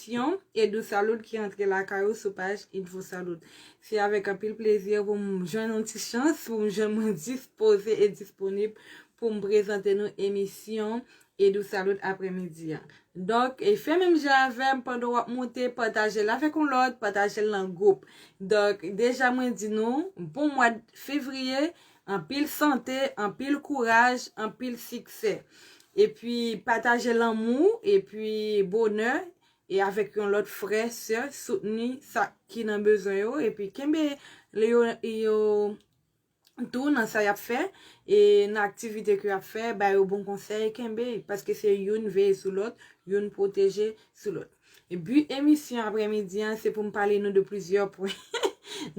Syon Edousalud ki antre lakay ou sou paj Edvosalud. Se avèk anpil plezi pou m jwenn yon ti chans pou m jwenn mwen dispoze e disponib pou m prezante nou emisyon Edousalud aprè midi an. Donk, fè menm jan avè m pandan w ap moute, pataje l avèk yon lòt, pataje l nan gwoup. Donk, deja mwen di nou, bon mwad fevriye, Anpil sante, anpil kouraj, anpil siksè. Epi pataje lanmou, epi bonè, e avèk yon lòt frè, sè, soutni sa ki nan bezwen yo, epi kenbe le yo yo tou nan sa yap fè, e nan aktivite ke yap fè, ba yo bon konsèy, kenbe, paske se youn veye sou lòt, youn pwoteje sou lòt. Bi emisyon aprè midi an se pou m pale nou de plizyè pwen.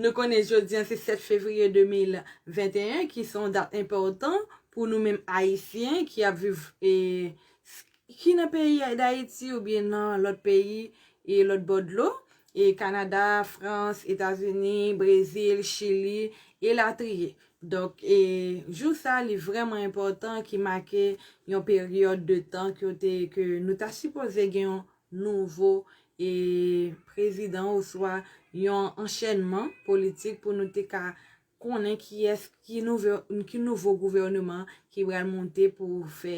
Nou konnen jodi an se 7 fevriye 2021 ki se yon dat enpòtan pou nou menm Ayisyen ki ap viv ki nan peyi Dayiti oubyen nan lòt peyi e lòt bò dlo, Kanada, Frans, Etazini, Brezil, Chili, elatriye. Donk, e jou sa a li vrèman enpòtan ki make yon peryòd de tan kote ke nou ta sipoze gen yon nouvo e prezidan oswa yon anchènman politik pou nou te ka konnen kiyès ki nouvo ki nouvo gouvèneman ki pral monte pou fè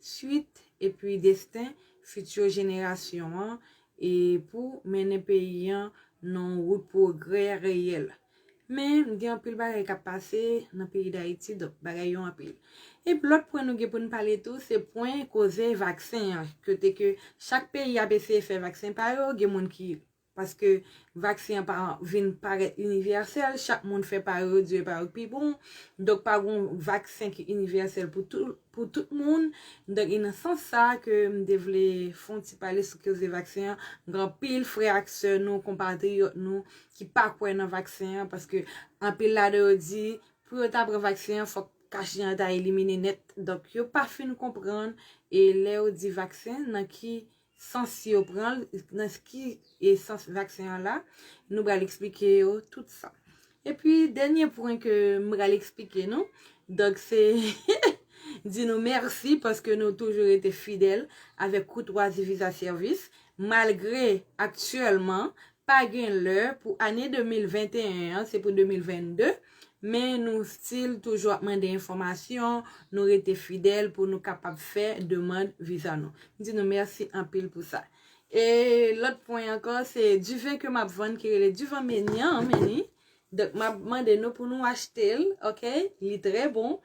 swit epi desten fiti jenerasyon an e pou mennen peyi an nan wout pwogrè reyèl. Men, gen anpil bagay k ap pase nan peyi Dayiti, donk bagay yo anpil. Epi lòt pwen nou gen pou n pale tou, se pwen koze vaksen an, kote ke chak peyi ap eseye fè vaksen pa yo, gen moun ki, paske vaksen an pa vin parèt inivèsèl, chak moun fè pa yo, yo di yo e pa yo k pi bon, donk pa gon vaksen ki inivèsèl pou tout, pou tout moun, donk e nan sans sa ke m te vle fè yon ti pale sou koze vaksen an, gen anpil frè ak sè nou, konpatriyòt nou ki pa kwè nan vaksen an, paske anpil ladan yo di pou yo ta pran vaksen an fòk kachnen an ta elimine nèt, donk yo pa fin konprann, e lè yo di vaksen nan ki sans yo pran l, nan ki sans vaksen an la, nou pral eksplike yo tout sa. E pi dènye pwen ke m pral eksplike nou, donk se di nou mèsi paske nou toujou rete fidèl avèk koutwazi Visa Service malgre aktyèlman Pa gen lè pou ane 2021 an se pou 2022 men nou still toujou ap mande enfòmasyon nou rete fidèl pou nou kapab fè demand viza nou m di nou mèsi anpil pou sa e lòt pwen ankò se diven ke map vann ki rele divan menyan meni donk map mande nou pou nou achte l ok li trè bon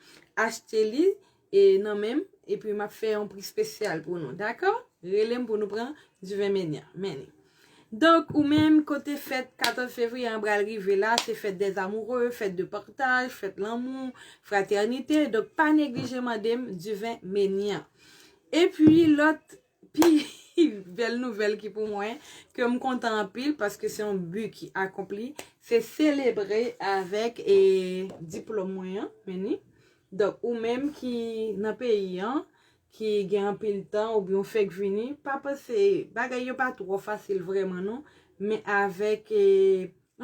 achte li E nan menm epi map fè yon pri spesyal pou nou dakò relem pou nou pran du vin menya meni. Donk ou menm kote fèt 14 fevriye an pral rive la se fèt des amoureux fèt de partage fèt lanmou fraternite donk pa neglije mandem du vin menya. Epi lòt Pi bèl nouvèl ki pou mwen, ke m kontan anpil paske se yon bi ki akonpli, se selebre avèk e diplòm mwen an, men ni. Donk ou menm ki nan peyi an, ki gen anpil tan oubyen ou fèk vini, pa panse, bagay yo pa twò fasil vrèman non, men avèk e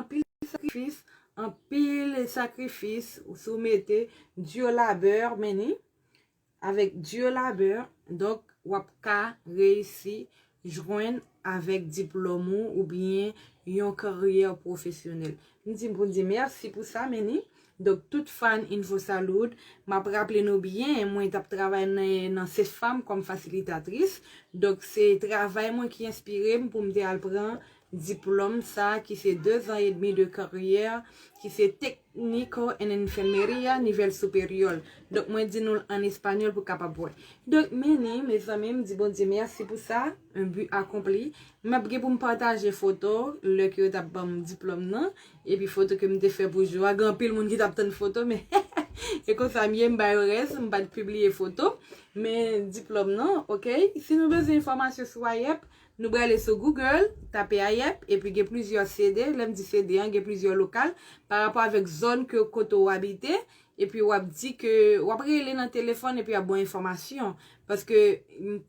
anpil sakrifis, anpil sakrifis, si w mete, dur labeur, men ni, Avèk dur labeur, donk wap ka reyisi jwenn avèk diplòm ou oubyen yon karyè pwofesyonèl. M di pou n di mèsi pou sa men ni. Donk tout fan Infosalud, m ap raple nou byen mwen t ap travay nan CEFAM kòm fasilitatris. Donk se travay mwen ki enspire m pou m te al pran diplòm sa ki se dezan edmi de karyè ki se tek. Nico en enfermería nivel superior donk mwen di nou l an español pou kapab wè donk men li mezanmi m di Bondye mèsi pou sa un but accompli map gen pou m pataje foto lè ke yo tap banm diplòm nan epi foto ke m te fè pou jou a gen anpil moun ki tap tann foto men e konsa m ye m ba yo rès m pat pibliye foto men diplòm nan ok si nou bezwen enfòmasyon sou AYEP Nou brale sou Google, tape Ayèp, epi gen plizyè CD, lè m di CD an, gen plizyè lokal, pa rapò avèk zòn ke kote ou abite, epi w ap di ke, w ap rele nan telefòn epi y ap ba w enfòmasyon. Paske,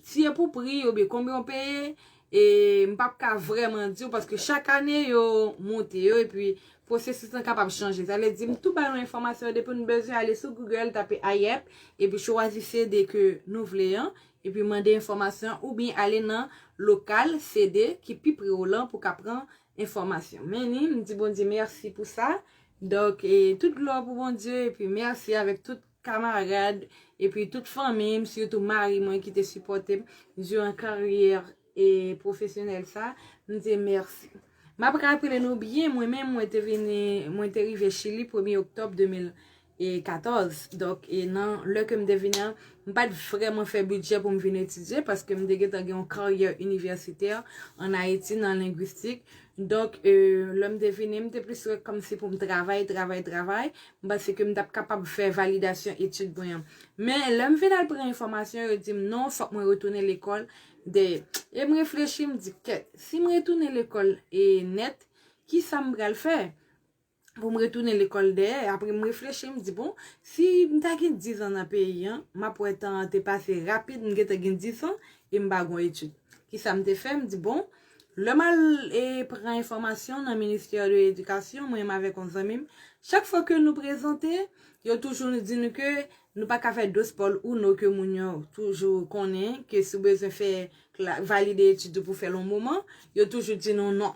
si e pou pri yo oubyen konbyen ou peye, e m p ap ka vrèman di w paske chak ane yo monte yo epi pwosesis lan kapab chanje. Sa vle di m tou ba nou enfòmasyon depi nou bezwen ale sou Google, tape Ayèp, epi chwazi CD ke nou vle an, Epi mande enfòmasyon oubyen ale nan lokal CD ki pi pre w lan pou ka pran enfòmasyon. Men ni, m di Bondye mèsi pou sa. Donk, tout glwa pou Bondye epi mèsi avèk tout kamarad epi tout fanmi m, sitou mari mwen ki te sipòte m diran karyè pwofesyonèl sa. M di mèsi. M ap raple nou byen, mwen menm mwen te vini, mwen te rive Chili premye oktòb 2000. e 14 donk e nan lè ke m te vini an m pat vrèman fè bidjè pou m vin etidye paske m te gentan gen yon karyè inivèsitè an Ayiti nan lengwistik donk e lè m te vini m te plis wè kòmsi pou m travay travay travay m panse ke m t ap kapab fè validasyon etid mwen an men lè m vin al pran enfòmasyon yo di m non fòk mwen retounen lekòl de e m reflechi m di kèt si m retounen lekòl e nèt kisa m pral fè pou m retounen lekòl dèyè. Apre m reflechi, m di bon, si m ta gen dizan nan peyi an, m ap wè tan an te pase rapid, m gentan gen disan e m pa gon etid. Kisa m te fè? M di bon, lè m al e pran enfòmasyon nan ministè de edikasyon, mwen menm avèk yon zanmi m, chak fwa ke nou prezante, yo toujou nou di nou ke nou pa ka fè dospòl uno ke moun yo toujou konnen, ke si w bezwen fè valide etid ou pou w fè l yon moman, yo toujou di nou non.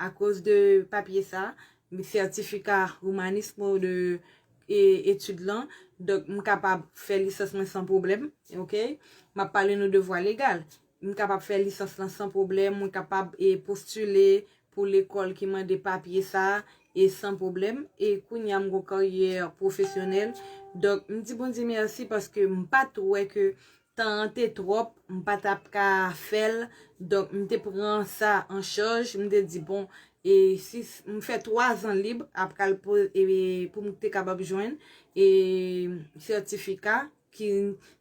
Akoz de papye sa, sètifika Humanismo de etid lan, donk m kapab fè lisans mwen san pwoblèm. Ok. M ap pale nou devwa legal. M kapab fè lisans lan san pwoblèm, mwen kapab postile pou lekòl ki mande papye sa e san pwoblèm. E kounye a m gon karyè pwofesyonèl. Donk m di Bondye mèsi paske m pa t wè ke Tan an te twòp, m pa t ap ka fè l. Donk, m te pran sa an chaj. M te di, bon, e si m fè twazan lib apral pou m te kapab jwenn sètifika ki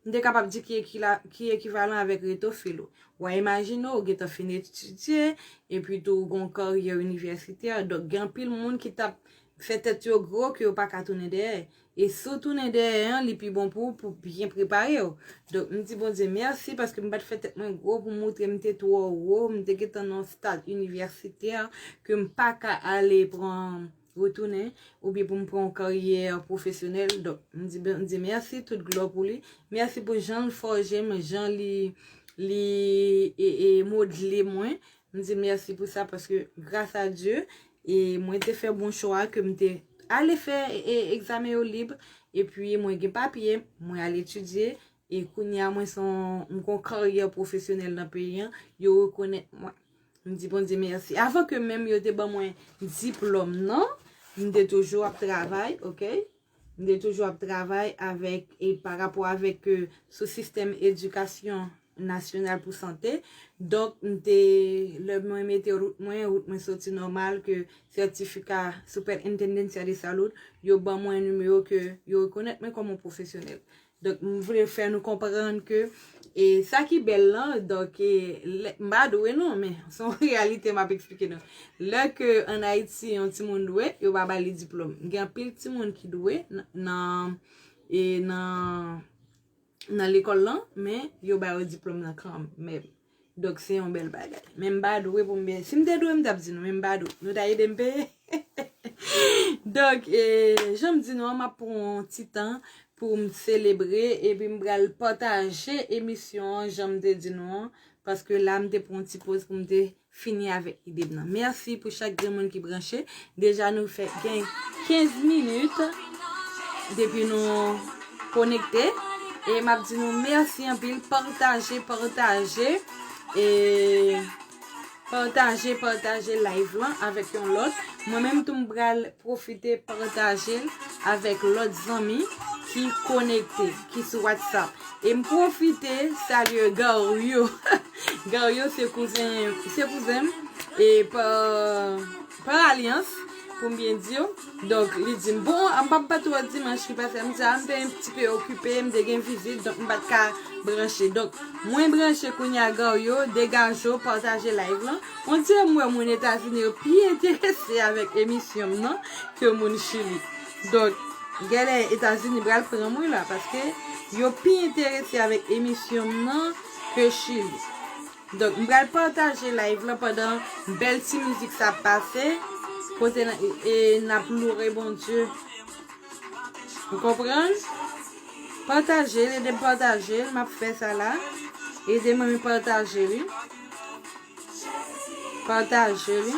m te kapab di ki ekivalan avèk reto filo. Ou a imajine ou gentan fin etidye, epi tou ou gen yon karyè inivèsitè. Donk, gen anpil moun ki t ap fè tèt yo gwo ke yo pa ka tounen dèyè. E si w tounen dèyè an, li pi bon pou ou pou w byen prepare w. Donk, m di Bondye mèsi paske m pa t fè tèt mwen gwo pou m montre m te twò wo, m te gen tan nan yon stad inivèsitè ke m pa ka ale pran, retounen, oubyen pou m pran yon karyè pwofesyonèl. Donk, m di Bondye mèsi, tout glwa pou li. Mèsi pou jan l fòje m, jan li modle mwen. M di l mèsi pou sa paske gras a Dye, E mwen te fè bon chwa ke m te ale fè egzamen yo lib. E pi mwen gen papye, mwen al etidye. E kounye a mwen se yon, m gen yon karyè pwofesyonèl nan peyi an. Yo rekonèt mwen. M di Bondye mèsi. Avan ke menm yo te ban mwen diplòm nan, m te toujou ap travay, ok. M te toujou ap travay avèk e pa rapò avèk ke sou sistèm edikasyon nasyonal pou sante. Donk m te lè mwen mete rout mwen, rout mwen soti nòmal ke sètifika Superintendencia de Salud yo ban mwen nimewo ke yo rekonèt mwen kòm yon pwofesyonèl. Donk m vle fè nou konprann ke e sa ki bèl lan, donk e lè, m pa dwe non men se yon reyalite m ap eksplike nou. Lè ke an Ayiti yon timoun dwe, yo pa ba li diplòm. Gen anpil timoun ki dwe nan e nan nan lekòl lan men yo ba yo diplòm nan kan mèm. Donk se yon bèl bagay. Men m pa dwe pou m byen. Si m te dwe m t ap di nou men m pa dwe. Nou ta ede m peye? Donk, jan m di nou an m ap pran yon ti tan pou m selebre epi m pral pataje emisyon an jan m te di nou an. Paske la m te pran yon ti poz pou m te fini avèk ide m nan. Mèsi pou chak grenmoun ki branche. Deja nou fè gen 15 minit depi nou konekte e map di nou mèsi anpil pataje pataje e pataje pataje live lan avèk yon lòt mwen menm tou m pral profite pataje l avèk lòt zanmi ki konekte ki sou whatsapp e m profite salye Gario Gario se kouzen m e pa Pran alyans, pou m byen di w. Donk, li di m, bon, m pa pa twò dimanch ki pase a, m di a m te yon ti pe okipe, m te gen vizit, donk m pa t ka branche. Donk, mwen branche kounye a Garyo, Degajo, pataje live lan. On dirè m wè moun Etazini yo pi enterese avèk emisyon m nan ke moun Chili. Donk, gèlè Etazini pral pran m wi la, paske yo pi enterese avèk emisyon m nan ke Chili. Donk m pral pataje live lan pandan bèl ti mizik sa ap pase kote n ap loure Bondye. Ou konprann? Pataje l, ede m pataje l, m ap fè sa la. Ede m renmen pataje li. Pataje li.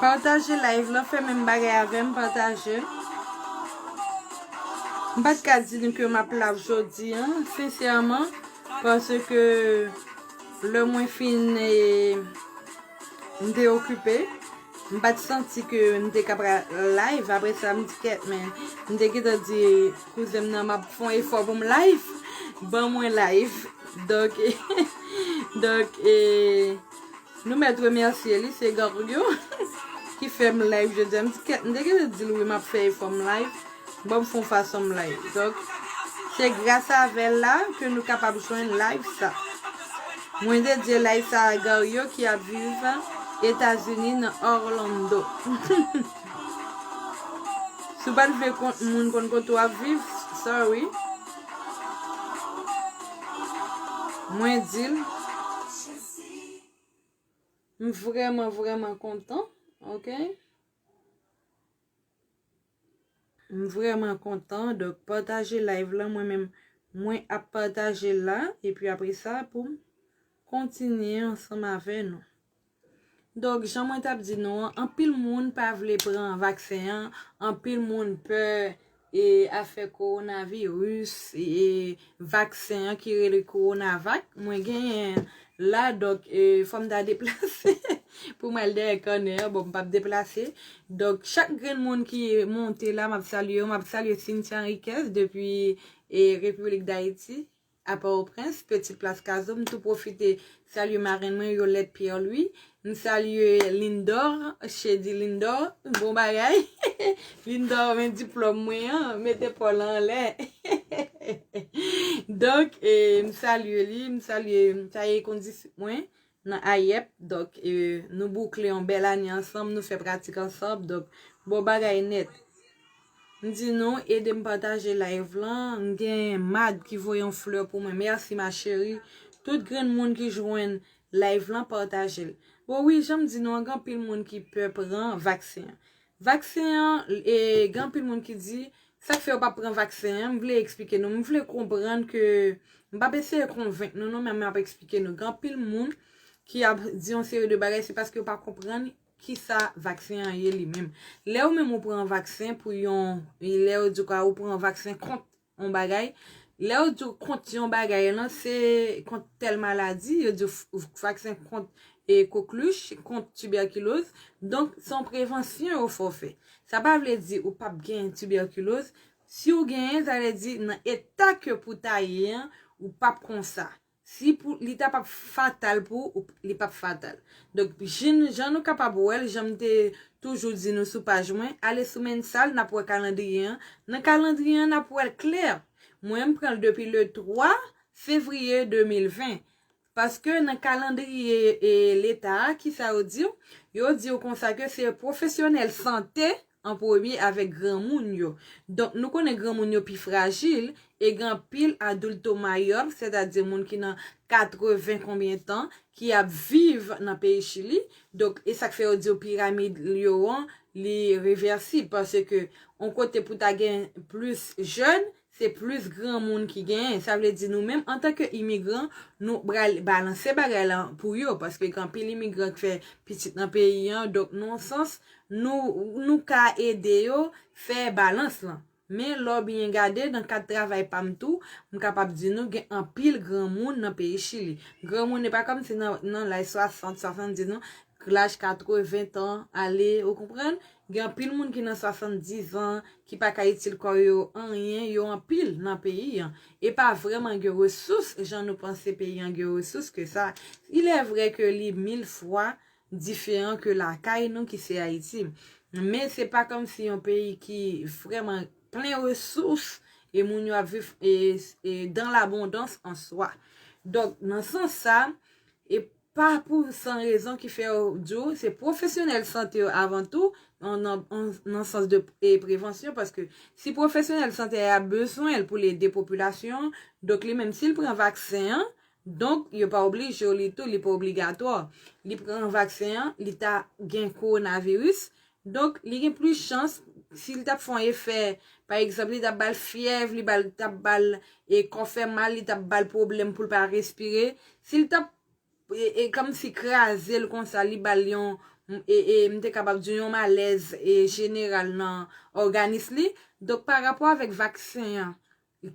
Pataje live lan fè menm bagay avèm pataje. M pat ka di nou ke map la jodi an sensèman paske lè mwen fin m te okipe m pat santi ke m te ka pral live apre sa m di kèt men m te gentan di kouzen m nan map fon efò pou m live ban mwen live donk donk e Nou mèt remèsye li se Garlio ki fèm live jodia m te gentan dil wi map fè efò m live banm fon fason m live donk se gras avèl la ke nou kapab jwenn live sa mwen dedye live sa a Garlio ki ap viv etazini nan Orlando si w pat vle moun konn kote w ap viv sorry mwen dil. M vreman vreman kontan ok. M vreman kontan donk pataje live lan mwen menm mwen ap pataje l la epi apre sa poum kontinye ansanm avè nou. Donk jan mwen tap di nou an anpil moun pa vle pran vaksen an anpil moun pè E afè korona virus e vaksen an ki rele korona vak mwen genyen la donk fòm ta deplase pou mwen al dèyè kònè an bon m pap deplase donk chak grenn moun ki monte la map salye yo map salye Cynthia Henriquez depi e République d'Haïti. A Pòtoprens, Petit Place Cazeau, m tou pwofite salye marenn mwen Yolette Pierre Louis, m salye Lindor, Cheddy Lindor, bon bagay, Lindor men diplòm mwen an, mete paw lan anlè, donk m salye li, m salye m salye kondisip mwen, nan AIEP donk nou boukle yon bèl ane ansanm nou fè pratik ansanm donk bon bagay nèt m di nou edem pataje live lan m gen Mad ki voye yon fleur pou mwen merci ma chérie tout grenn moun ki jwenn live lan patajel bon wi janm di nou an gen anpil moun ki pè pran vaksen an Vaksen an e gen anpil moun ki di sak fè yo pap pran vaksen an m vle eksplike nou m vle konprann ke m pap eseye konvenk nou non men m ap eksplike nou gen anpil moun ki ap di yon seri de bagay se paske yo pa konprann kisa vaksen an ye li menm lè ou menm ou pran vaksen pou yon lè yo di ou ka ou pran vaksen kont yon bagay, lè yo diw kont yon bagay lan se kont tèl maladi, yo diw vaksen kont e koklwich, kont tiberkiloz, donk se yon prevansyon yo fè w fè. Sa pa vle di ou pap gen tiberkiloz, siw genyen sa vle di nan eta ke pou ta ye an ou pap konsa. Si pou li ta pap fatal pou ou, li pap fatal. Donk, jinn jan nou kapab wè l, jan m te toujou di nou sou paj mwen, ale sou Mensal, n ap wè kalandriye an. Nan kalandriye an, n ap wè l klè. Mwen, m pran l depi le 3 fevriye 2020. Paske nan kalandriye Leta a, ki sa yo di w? Yo di w konsa ke se pwofesyonèl sante an premye avèk granmoun yo. Donk nou konnen granmoun yo pi frajil e gen anpil adulto mayor, sètadi moun ki nan 80 konbyen tan, ki ap viv nan peyi Chili. Donk e sa k fè yo di w piramid yo an li reversib paske on kote pou ta gen plis jèn, Se plis granmoun ki genyen. Sa vle di nou menm antan ke imigran, nou pral balanse bagay la pou yo. Paske gen anpil imigran ki fè pitit nan peyi an. Donk nan yon sans, nou ka ede yo fè balans lan. Men lè w byen gade, nan kad travay pa m tou, m kapab di nou gen anpil granmoun nan peyi Chili. Granmoun e pa kòm si nan laj 60, 70 non. Laj 80 tan ale, ou konprann? Gen anpil moun ki nan 70 an ki pa ka itil kò yo anyen, yo anpil nan peyi an. E pa vrèman gen resous jan nou panse peyi an gen resous ke sa. Il è vrè ke li mil fwa diferan ke lakay nou ki se Ayiti. Men se pa kòm si yon peyi ki vrèman plen resous e moun yo ap viv dan labondans an swa. Donk nan sans sa, Pa pou san rezon ki fè yo di w se pwofesyonèl sante yo avan tou, nan sans de prevansyon, paske si pwofesyonèl sante a y ap bezwen l pou l ede popilasyon an, donk li menm si l pran vaksen an, donk yo pa oblije w li tou, li pa obligatwa, li pran vaksen an, li ta gen kowonaviris, Donk, li gen plis chans, si li t ap fè yon efè, pa egzanp, li t ap ba l fyèv, li t ap ba l kò fè mal, li t ap ba l pwoblèm pou l pa respire, si l t ap kòmsi kraze l konsa, li ba l yon, m te kapab di yon malèz jeneral nan òganis li. Donk, pa rapò avèk vaksen an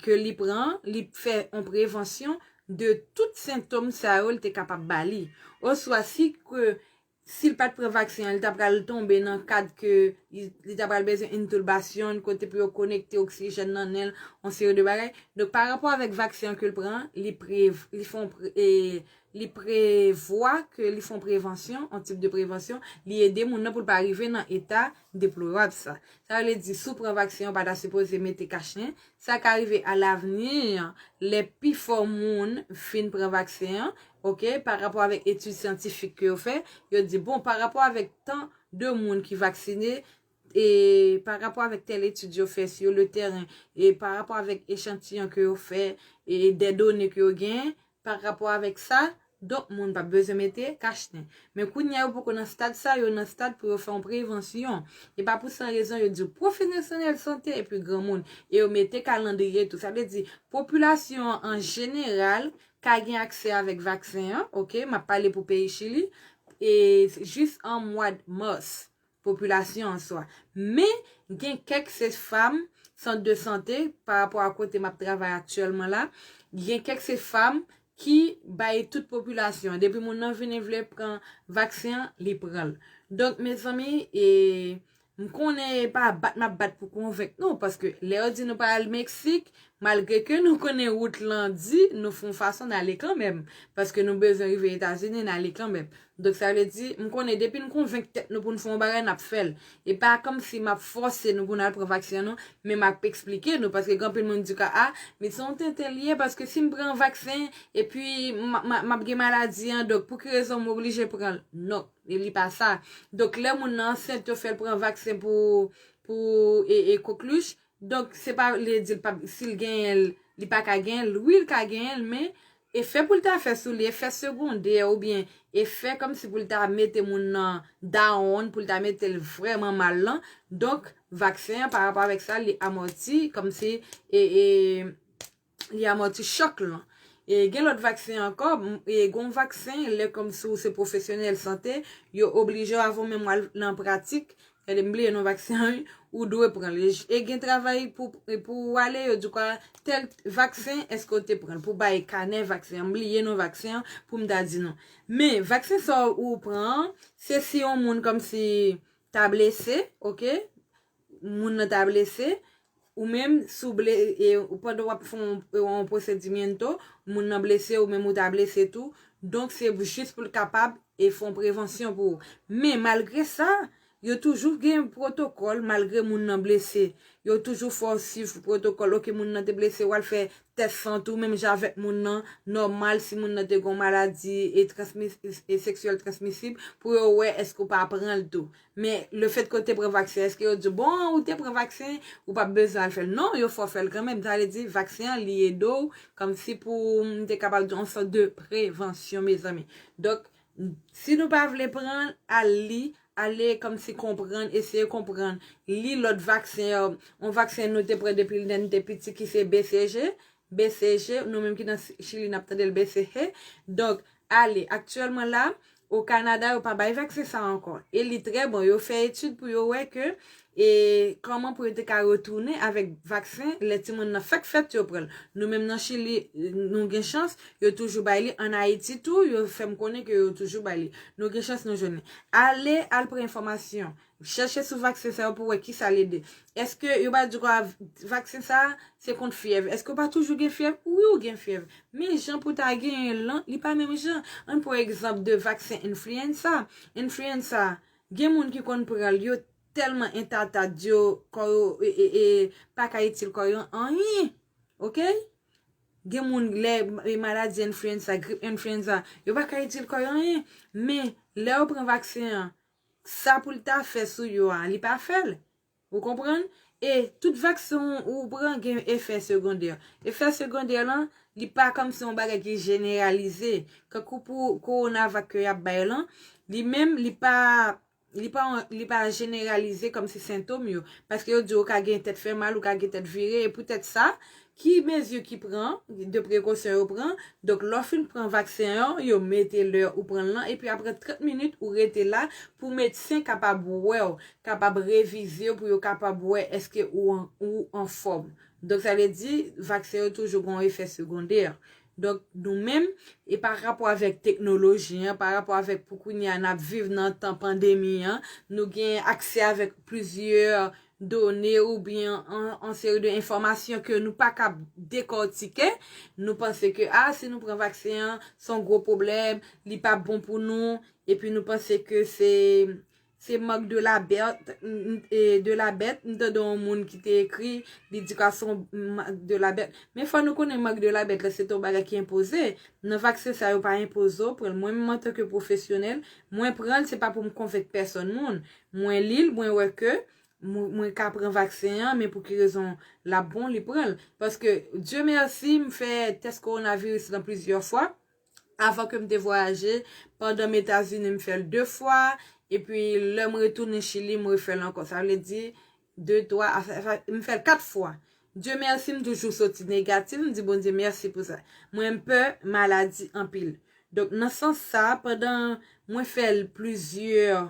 ke li pran, li fè yon prevansyon de tout sentòm sa yo li te kapab ba li. Oswa si ke Si l pat pran vaksen an, li ta pral tonbe nan kad ke li ta pral bezwen entulbasyon, kote pou yo konekte oksijèn nan nen l, yon seri de bagay. Donk pa rapò avèk vaksen an ke l pran, li pre, li fè yon pre, e, li prevwa ke li fè yon prevansyon, yon tip de prevansyon, li ede moun nan pou l pa rive nan eta deplorab sa. Sa vle di, si w pran vaksen an, w pa ta sipoze mete kachnen. Sa ka rive alavni, lè pifò moun fin pran vaksen an, Ok, pa rapò avèk etid syantifik ke yo fè, yo di bon pa rapò avèk tan de moun ki vaksine, e pa rapò avèk tèl etid yo fè sur le terrain, e pa rapò avèk echantiyon ke yo fè, e dè done ke yo genyen, pa rapò avèk sa, donk moun pa p bezwen mete kach nen. Men kounye a yo poko nan stad sa, yo nan stad pou yo fè yon prevansyon. E pa pou san rezon yo di w pwofenesyonèl sante epi granmoun, e yo mete kalandriye tou. Sa vle di popilasyon an an jeneral ka gen aksè avèk vaksen an, ok, m ap pale pou peyi Chili, e jis an mwad mas, popilasyon an swa. Men, gen kèk se fam, sant de sante, pa rapò a kote m ap travay aktyèlman la, gen kèk se fam ki bay tout popilasyon an. Depi moun nan vini vle pran vaksen an, li pran l. Donk, mezanmi, e, M konnen e pa bat map bat pou konvenk nou, paske lè yo di nou pa al Meksik, malgre ke nou konnen wout lan di, nou fon fason n ale kanmenm, paske nou bezwen rive Etazini, n ale kanmenm. Donk sa vle di, m konnen depi n konvenk tèt nou pou n fè yon bagay, nap fè l. E pa kòmsi map fòse nou pou n al pran vaksen non, men map eksplike nou, paske gen anpil moun di ka a, men se yon tenten li ye, paske si m pran vaksen, epi map gen maladi an, donk pou ki rezon m oblije pran l? Non. E li pa sa. Donk lè moun nan ansent yo fèl pran vaksen pou pou e coqueluche, donk se pa vle di l pap si l genyen l li pa ka genyen l, wi l ka genyen l men efè pou l ta fè sou li efè segondè oubyen efè kòmsi pou l ta mete moun nan down pou l ta mete l vrèman mal lan, donk vaksen an pa rapò avèk sa li amòti kòmsi e e. li amòti chòk lan. E gen lòt vaksen ankò, e gon vaksen lè kòmsi ou se pwofesyonèl sante, yo oblije w avan w menm wal nan pratik, gade m bliye non vaksen an wi, ou dwe pran l. E gen travay pou pou ou ale yo di w a tèl vaksen èske ou te pran l, pou w bay kanè vaksen an, m bliye non vaksen an pou m ta di nou. Men vaksen sa ou pran an, se si yon moun kòmsi ta blese, ok, moun nan ta blese, ou menm si w ble e pandan w ap fè yon procedimiento, moun nan blese ou menm ou ta blese tou, donk se jis pou l kapab e fè yon prevansyon pou ou. Men malgre sa, yo toujou gen pwotokòl malgre moun nan blese. Yo toujou fè w swiv pwotokòl, ok moun nan te blese w al fè tès san tou menm jan avèk moun nan, nòmal si moun nan te gen yon maladi e transmi e seksyèl transmisib pou yo wè èske ou pa pran l tou. Men le fèt ke w te pran vaksen eske yo di w bon ou te pran vaksen ou pap bezwen al fèl non yo fè w fèl kanmenm sa vle di vaksen an li ede w kòmsi pou m te kapab di on sòt de prevansyon mezanmi donk si nou pa vle pran l al li ale kòmsi konprann eseye konprann li lòt vaksen yo on vaksen nou te pran depi lè n te piti ki se BCG BCG nou menm ki nan chili n ap tande l BCH donk Ale, aktyèlman la, o Kanada yo pa bay vaksen sa ankò. E li trè bon, yo fè etid pou yo wè ke e kòman pou yo te ka retounen avèk vaksen lè timoun nan fèk fèt yo pran l. Nou menm nan Chili nou gen chans, yo toujou bay li, an Ayiti tou yo fè m konnen ke yo toujou bay li. Nou gen chans nou jwenn li. Ale, al pran enfòmasyon. Chèche sou vaksen sa yo pou wè kisa l ede. Eske yo pa di w a vaksen sa a se kont fyèv. Eske w pa toujou gen fyèv? Wi ou gen fyèv. Men jan pou ta genyen l lan li pa menm jan. Ann pran egzanp de vaksen enfliyensa. Enfliyensa gen moun ki konn pran l yo tèlman entatad yo kò yo pa ka itil kò yo anyen. Ok. Gen moun lè maladi enfliyensa, grip enfliyensa yo pa ka itil kò yo anyen. Men lè yo pran vaksen an Sa pou l ta fè sou yo a, li pa fè l. Ou konprann? E, tout vaksen ou pran gen yon efè segondè. Efè segondè lan, li pa kòmsi yon bagay ki jeneralize. Kankou pou Coronavac ke y ap bay lan, li menm, li pa, li pa yon, li pa jeneralize kòmsi sentom yo. Paske yo di ou ka gen tèt fè mal, ou ka gen tèt vire, e poutèt sa, Ki mezi ki pran, de prekosyon yo pran, donk lè w fin pran vaksen an, yo mete lè ou pran l lan, epi aprè 30 minit ou rete la pou medsen kapab wè w, kapab revize w pou yo kapab wè èske ou ou anfòm. Donk sa vle di vaksen yo toujou gen yon efè segondè. Donk nou menm, e pa rapò avèk teknoloji an, pa rapò avèk pou kounye a n ap viv nan tan pandemi an, nou gen aksè avèk plizyè done ou byen yon seri de enfòmasyon ke nou pa kab dekòtike, nou panse ke a si nou pran vaksen an se yon gwo pwoblèm, li pa bon pou nou, epi nou panse ke se se marque de la bête, de la bête, m tande yon moun ki te ekri li di ka se yon marque de la bête, men fò nou konnen marque de la bête la se te yon bagay ki enpoze, nan vaksen sa yo pa enpoze w pran l, mwen menm antanke pwofesyonèl mwen pran l se pa pou m konvenk pèsòn moun, Mwen lil mwen wè ke Mwen ka pran vaksen an men pou ki rezon lap bon li pranl paske Dieu merci m fè tès coronavirus lan plizyè fwa avan kem te vwayaje pandanm etazini m fèl 2 fwa epi lèm retounen chili m refèl ankò sa vle di 2 3 m fèl 4 fwa Dieu merci m toujou soti negatif m di Bondye merci pou sa mwen pè maladi anpil donk nan sans sa pandan mwen fèl plizyè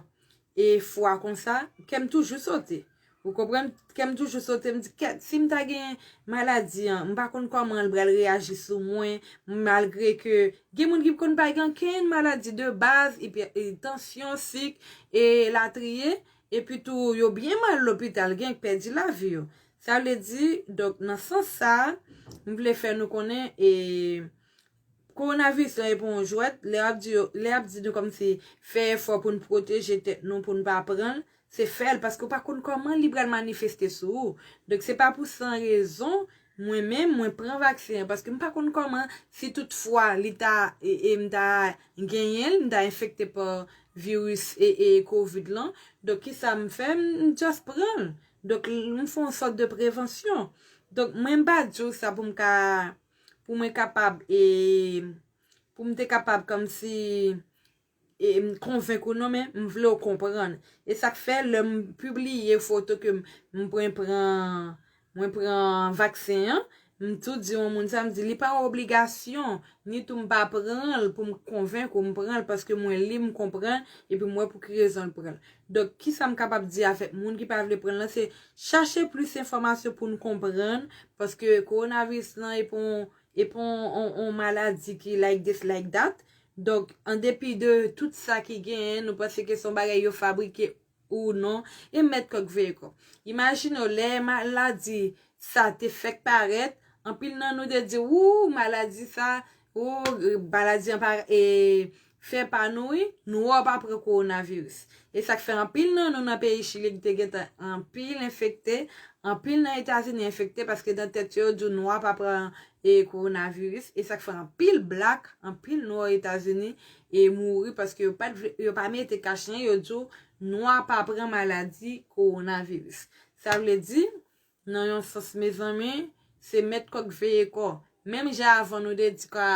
e fwa konsa kèm toujou sote ou konprann kèm toujou sote m di sim ta gen maladi an m pa konn kòman l pral reyaji sou mwen malgre ke gen moun ki konn pa gen okenn maladi de baz tansyon sik e latriye. Epi tou yo byen mal lopital gen k pèdi lavi yo. Sa vle di, donk nan sans sa, m vle fè nou konnen e Kowonaviris lan e pa yon jwèt, lè ap di yo, lè ap di nou kòmsi fè efò pou n pwoteje tèt nou pou n pa pran l, se fè l paske ou pa konn kòman li pral manifeste sou ou. Donk se pa pou san rezon Mwen menm mwen pran vaksen an paske m pa konn kòman si tout fwa li ta e m ta genyen l m ta enfekte pa viris e covid lan donk kisa m fè m just pran l donk m fon sòt de prevansyon donk mwen m pa di w sa pou m ka pou mwen kapab e pou m te kapab kòmsi. konvenk ou non men m vle w konprann. E sa k fè lè m pibliye foto ke m pwen pran mwen pran vaksen an, m tou di yon moun sa m di li pa yon obligasyon ni tou m pa pran l pou m konvenk ou m pran l paske mwen li m konprann epi m wè pou ki rezon l pran l. Donk ki sa m kapab di avèk moun ki pa vle pran l lan se chache plis enfòmasyon pou n konprann paske kowonaviris lan e pa yon e pa yon yon maladi ki like this like that Donk, an depi de tout sa ki genyen, nou panse ke se yon bagay yo fabrike ou non, e mèt kòk veye kò. Imajine w, lè maladi sa te fèk parèt, anpil nan nou te di, wou, maladi sa, wou, maladi an pa e, fè pa nou wi, nou wè w pa pran kowonaviris. E sa k fè anpil nan nou nan peyi Chili ki te gen tan anpil enfekte, anpil nan Etazini enfekte paske nan tèt yo yo di w nwa pa pran e coronavirus e sak fè anpil black anpil nwa o etazini e mouri paske yo pat vle yo pa mete kach nan yo diw nwa pa pran maladi coronavirus sa vle di nan yon sans mezanmi se mèt kò k veye kò menm jan avan nou te di ka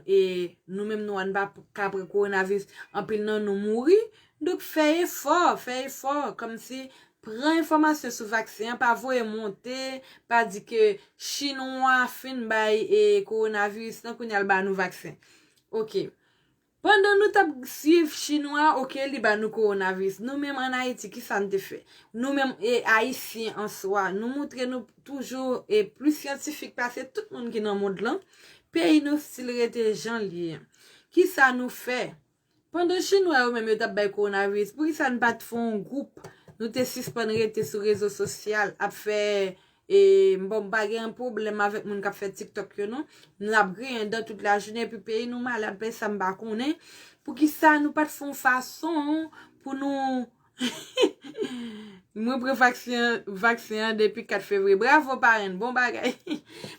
e nou menm nwa n pa ka pran coronavirus anpil nan nou mouri Donk fè efò, fè efò, kòmsi pran enfòmasyon sou vaksen an, pa voye monte, pa di ke chinwa fin bay e kowonaviris lan kounya l ba nou vaksen. Ok. Pandan nou t ap swiv chinwa ok li ba nou kowonaviris, nou menm an Ayiti ki sa n te fè? Nou menm e Ayisyen an swa, nou moutre nou toujou e plis syantifik pase tout moun ki nan mond lan, peyi nou stil rete jan l ye an. Ki sa nou fè Pandan chinwa yo menm yo tap bay coronavirus poukisa n pat fè yon gwoup nou te sispann rete sou rezo sosyal ap fè e bon m pa gen yon pwoblèm avèk moun kap fè tiktok yo non n ap griyen dan tout lajounen epi peyi nou malad pèsam pa konnen poukisa nou pat fè yon fason pou nou Mwen pran vaksen an depi 4 fevriye. Bravo parenn, bon bagay.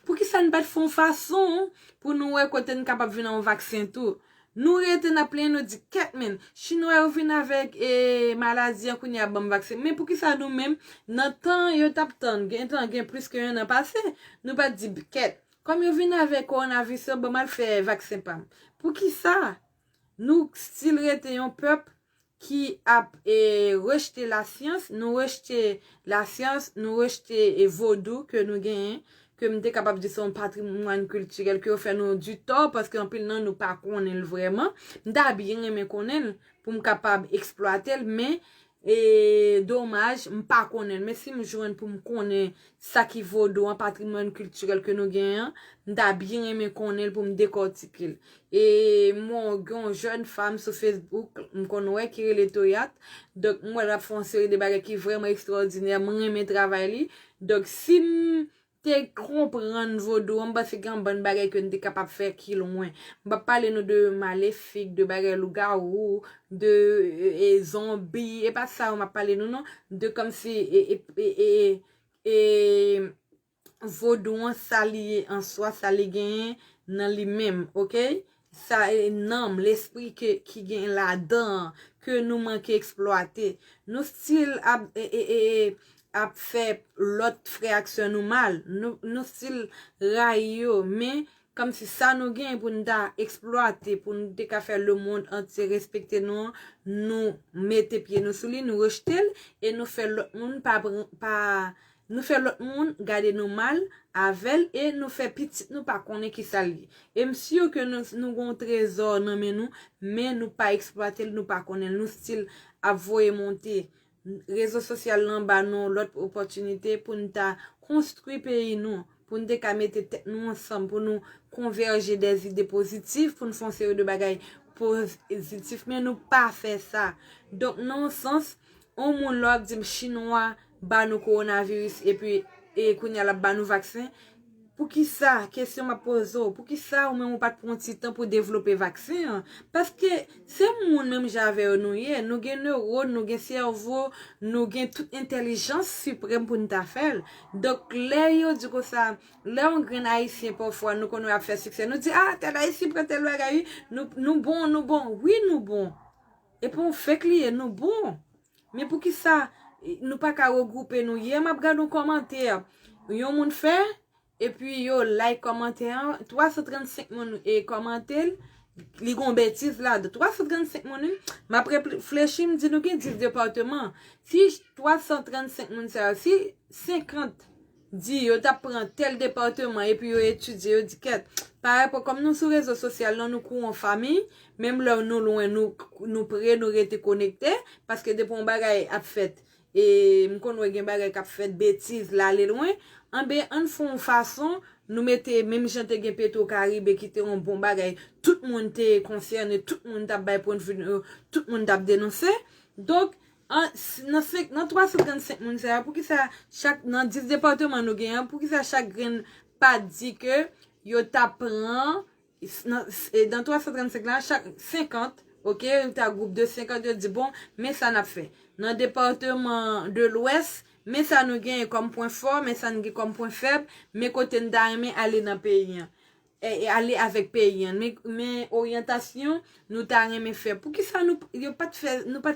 Poukisa n pat fè yon fason pou nou wè kote n kapab vin yon vaksen tou. Nou rete n ap plenyen nou di kèt men. Chinwa yo vin avèk e maladi an kounye a banm vaksen. Men poukisa nou menm nan tan yo t ap tann gen tan gen plis ke 1 an pase nou pat di kèt. Kòm yo vin avèk kowonavis yo banm al fè vaksen pa m. Poukisa nou stil rete yon pèp ki ap rejte lasyans, nou rejte lasyans, nou rejte vodou ke nou genyen, ke m te kapab di se yon patrimwàn kiltirèl ke yo fè nou di tò, paske anpil nan nou pa konnen l vrèman, m ta byen renmen konnen l, pou m kapab eksplwate l, men, e domaj, m pa konnen l, men si m jwenn pou m konnen Sa ki vodou an, patrimwàn kiltirèl ke nou gen an, m ta byen renmen konnen l pou m dekòtike l. E mwen wè gen yon jèn fanm sou Facebook, m konn wè ki rele Toyatt, donk m wè l ap fè yon seri de bagay ki vrèman ekstwòdinè, m renmen travay li. Donk si m te konprann vodou an, m panse gen yon bann bagay ke n te kapab fè ki lwen. M pa p pale nou de malefik, de bagay lougawou, de e zonbi e pa sa yo map pale nou non de kòmsi e e e e vodou an sa li ye an swa sa li genyen nan li menm ok sa e nanm lespri ke ki gen ladan an ke nou manke eksplwate nou stil ap e e e e ap fè lòt frè ak sè nou mal nou nou stil rayi yo men Kòmsi sa nou genyen pou n ta eksplwate, pou nou te ka fè lemonn antye respekte nou an, nou mete pye nou sou li, nou rejte l, e nou fè lòt moun pa pa, nou fè lòt moun gade nou mal avè l, e nou fè pitit nou pa konnen ki sa l ye. E m sur ke nou nou gen yon trezò nan men nou, men nou pa eksplwate l, nou pa konnen l, nou stil ap voye monte Rezo sosyal lan ba nou lòt opòtinite pou n ta konstwi peyi nou, pou n te ka mete tèt nou ansanm, pou nou konvèje dè zide pozitif, pou n fè yon seri de bagay pozitif, men nou pa fè sa. Donk nan yon sans, yon moun lè w ap di m chinwa ba nou kowonaviris epi kounye a l ap ba nou vaksen, Poukisa, kesyon m ap poze w, poukisa ou menm ou pa t pran yon ti tan pou devlope vaksen an? Paske se moun menm jan avè yo nou ye, nou gen newòn, nou gen sèvo, nou gen tout entèlijans siprèm pou n ta fè l. Donk lè yo di konsa, lè yon grenn Ayisyen pafwa nou konnen yo ap fè siksè, nou di a, tèl Ayisyen pran tèl bagay wi, nou bon, nou bon. Wi nou bon. Epi yon fek li ye, nou bon. Men poukisa Nou paka regroupe Nou yè map gad yon kòmantè yon moun fè epi yo like kòmantè an 335 moun kòmantel li gon betiz la dan 335 moun wi map reflechi m di Nou gen 10 departement si 335 moun sa yo si 50 Di yo tap pran tel departement epi yo etidye yo di kèt parèy pou kòm nou sou rezo sosyal non nou kou on fami menm lè nou lwen nou nou pre nou rete konekte paske depi on bagay ap fèt e m konn wè gen bagay kap fèt betiz lale lwen anbe ann fon on fason nou mete menm jan te gen petro karibe ki te on bon bagay tout moun te konsène tout moun tap bay pwendvi nou tout moun tap denonse donk An, nan 335 moun sa yo, poukisa chak, nan 10 depatman nou gen an, poukisa chak grenn pa di ke yo ta pran, nan 335 la, chak 50, ok, yo ta gwoup de 50, yo di bon, men sa nap fè. Nan depatman de lwès, men sa nou genyen kòm pwen fò, men sa nou gen kòm pwen fèb, men kote n ta renmen ale nan peyi an. ale avèk peyi an men oryantasyon nou ta renmen fè poukisa nou pat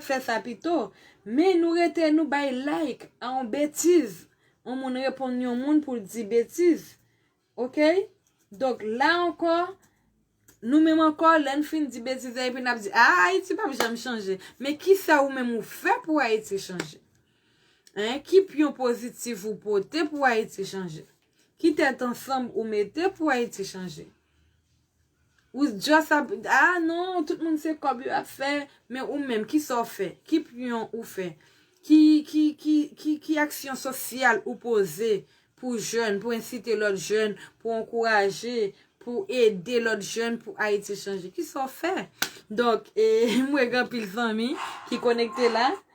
fè sa pito men nou rete nou bay like a yon betiz yon moun reponn yon moun pou l di betiz ok donk la ankò nou menm ankò lè n fin di betiz la epi n ap di a ayiti pap janm chanje men kisa ou menm ou fè pou ayiti chanje ki pyon pozitif ou pote pou ayiti chanje Ki tèt ansanm ou mete pou Ayiti chanje? Ou just ap, a non, tout moun se kòb yo ap fè, men ou menm ki sa w fè? Ki pyon ou fè? Ki, ki, ki, ki, ki aksyon sosyal ou poze pou jèn, pou ensite lòt jèn, pou ankouraje, pou ede lòt jèn pou Ayiti chanje? Ki sa w fè? Donk, e, mwen gen anpil zanmi ki konekte la.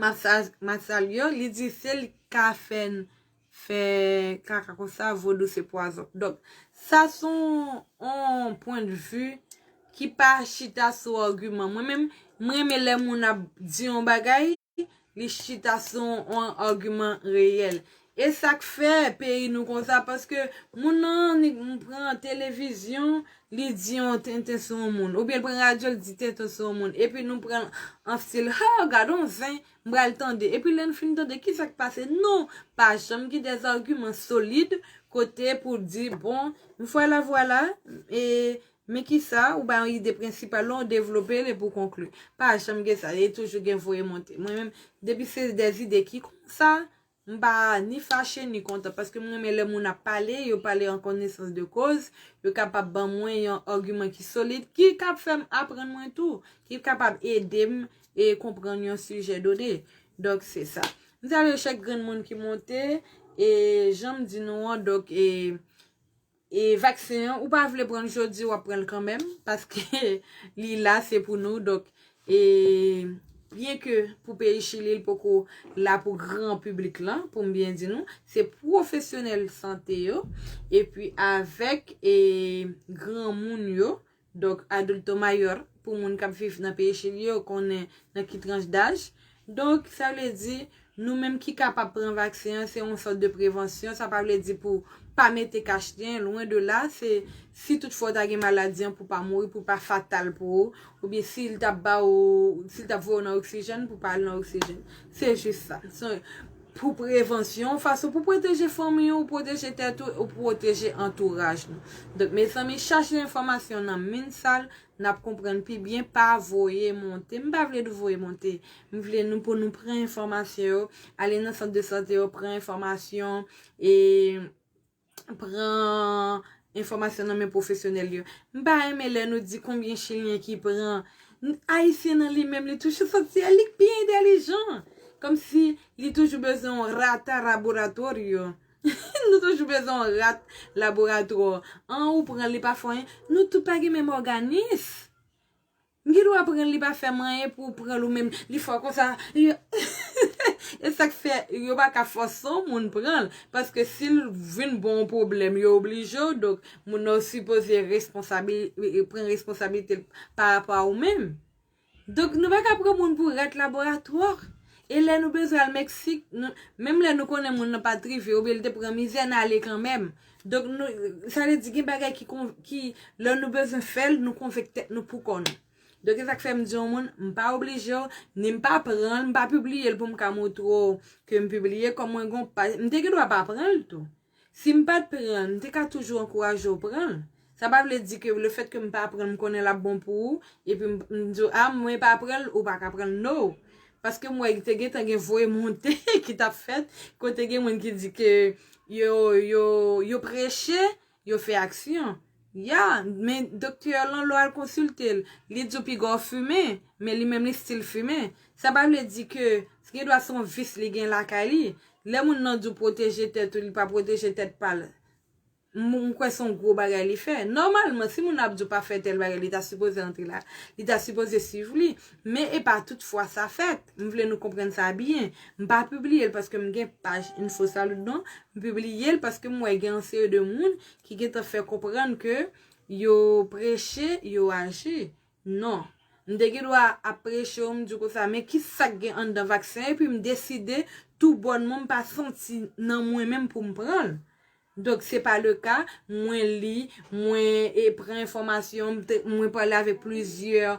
Map salye w li di sel ka fè n fè kaka konsa vodou se pwazon donk sa se yon pwen de vi ki pa chita sou agiman mwen menm m renmen lè moun ap di yon bagay li chita sou yon agiman reyèl Esak fè peyi nou konsa paske moun nan annik pran televizyon li di yon tenten sou yon moun oubyen l pran radyo l di tenten sou yon moun epi nou pran l an stil hoo gadon zen m pral tande epi lè n fin tande kisak pase nou pa janm gen des arguments solides kote pou di bon vwala vwala e men kisa ou bay yon ide prensipal lan ou devlope l epi ou konkli pa janm gen sa e toujou gen voye monte mwen menm depi se des idées ki konsa M pa ni fache ni kontan paske m renmen lè moun ap pale, yo pale an konesans de koz, yo kapab ban mwen yon agiman ki solid ki kab fè m aprann mwen tou, ki kapab ede m e konprann yon sijè done. Donk se sa. M salye chak grenn moun ki monte e jan m di nou an donk e. E vaksen an ou pa vle pranl jodi wap pranl kanmenm paske li la se pou nou donk e byen ke pou peyi chili li poko la pou gran piblik lan poum byen di nou se pwofesyonèl sante yo epi avèk e granmoun yo Donk adulto mayor pou moun kap viv nan peyi chili yo konnen nan ki tranch daj. Donk sa vle di nou menm ki kapab pran vaksen an se yon sòt de prevansyon sa pa vle di pou pa mete kach nen lwen de la se si tout fwa ou ta gen maladi an pou pa mouri pou pa fatal pou ou oubyen si l tap ba ou si l tap voye ou nan oksijèn pou pa al nan oksijèn se jis sa. Pou prevansyon, fason pou pwoteje fanmi ou, pwoteje tèt ou, ou pwoteje antouraj nou. Donk mezanmi chache enfòmasyon nan min sal nap konprann pi byen pa voye monte. M pa vle nou voye monte. M vle nou pou nou pran enfòmasyon yo, ale nan sant de sante yo pran enfòmasyon e. pran enfòmasyon nan men pwofesyonèl yo. M pa renmen lè nou di konbyen chilyen ki pran. Ayisyen nan li menm li toujou santi el li k pi entelijan. Kòm si li toujou bezwen yon rata raboratorio. Nou toujou bezwen yon rat laboratwò. An ou pran li pa fè anyen. Nou tout pa gen menm òganis. M gen dwa pranl li pa fèm anyen pou ou pranl ou menm li fò konsa e sak fè yo pa ka fòse yon moun pranl paske sil vin ba w yon pwoblèm yo oblije w donk moun nan w sipoze pran responsabilite l pa rapò a ou menm donk nou pa ka pran moun pou rat laboratwa e lè nou bezwen al meksik menm lè nou konnen moun nan pat rive oubyen li te pran mizè n ale kanmenm. Donk nou, sa vle di gen bagay ki kon, ki lè nou bezwen fè l, nou konvenk tèt nou pou kò nou. Donk e sa k fè m di yon moun, m pa oblije w, ni m pa pran l, m pa pibliye l pou m ka montre w ke m pibliye, kòm mwen gen yon paj, m te gen dwa pa pran l tou. Si m pa t pran l, m te ka toujou ankouraje w pran l. Sa pa vle di ke le fèt ke m pa pran l m konnen l ap bon pou ou epi m m di w a mwen pa pran l ou pa ka pran l no paske m wè te gentan gen voye monte ki t ap fèt kote gen moun ki di ke yo yo yo preche yo fè aksyon ya men doktè w lan lè w al konsilte l li di w piga w fimen men li menm li stil fimen sa pa vle di ke gen dwa se yon vis li gen lakay li lè moun nan di w pwoteje tèt ou li pa pwoteje tèt pa l. M kwè son gwo bagay li fè. Nòmalman si moun nan ap di w pa fè tèl bagay li ta sipoze antre la. Li ta sipoze swiv li. Men e pa tout fwa sa fèt. M vle nou konprann sa byen. M pa pibliye l paske m gen paj Infosalud non. M pibliye l paske m wè gen yon seri de moun ki gentan fè konprann ke yo preche, yo aji. Non. M te gen dwa ap preche w m di w konsa men ki sa k gen anndan vaksen epi m deside tou bònman m pa santi nan mwen menm pou m pran l. Donk se pa le ka, mwen li, mwen pran enfòmasyon, mwen pale avèk plizyè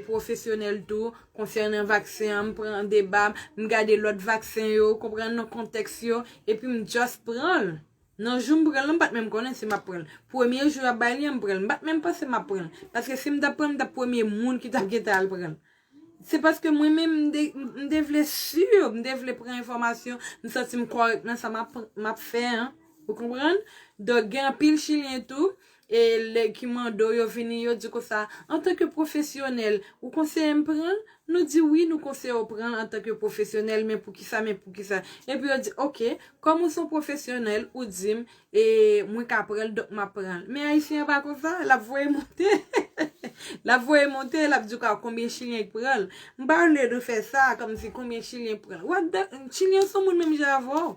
pwofesyonèl tou konsènan vaksen an, m pran deba, m gade lòt vaksen yo, ou konprann non, kontèks yo, epi m just pran l. Nan jou m pran l lan, m pa t menm konnen si m ap pran l. Premye jou y ap bay li an, m pran l. M pa t menm panse m ap pran l. Paske si m t ap pran l, m t ap premye moun ki t ap gen tan al pran l. Se paske mwen menm m te vle sur, m te vle pran enfòmasyon, m santi m kòrèk nan sa m ap fè an. Ou konprann? Donk gen anpil chilyen tou, e lè ki mande w yo vini yo di konsa, antanke pwofesyonèl, ou konseye m pran? Nou di wi nou konseye w pran antanke pwofesyonèl, men poukisa, men poukisa. Epi yo di ok, kòm ou s on pwofesyonèl, ou di m, E mwen ka pranl dok map pranl. Men ayisyen an pa konsa, lap voye monte. Lap voye monte, lap di w ka konbyen chilyen ki pranl. M pa vle nou fè sa, kòm si konbyen chilyen ki pranl. What the, chilyen son moun menm jan avè w.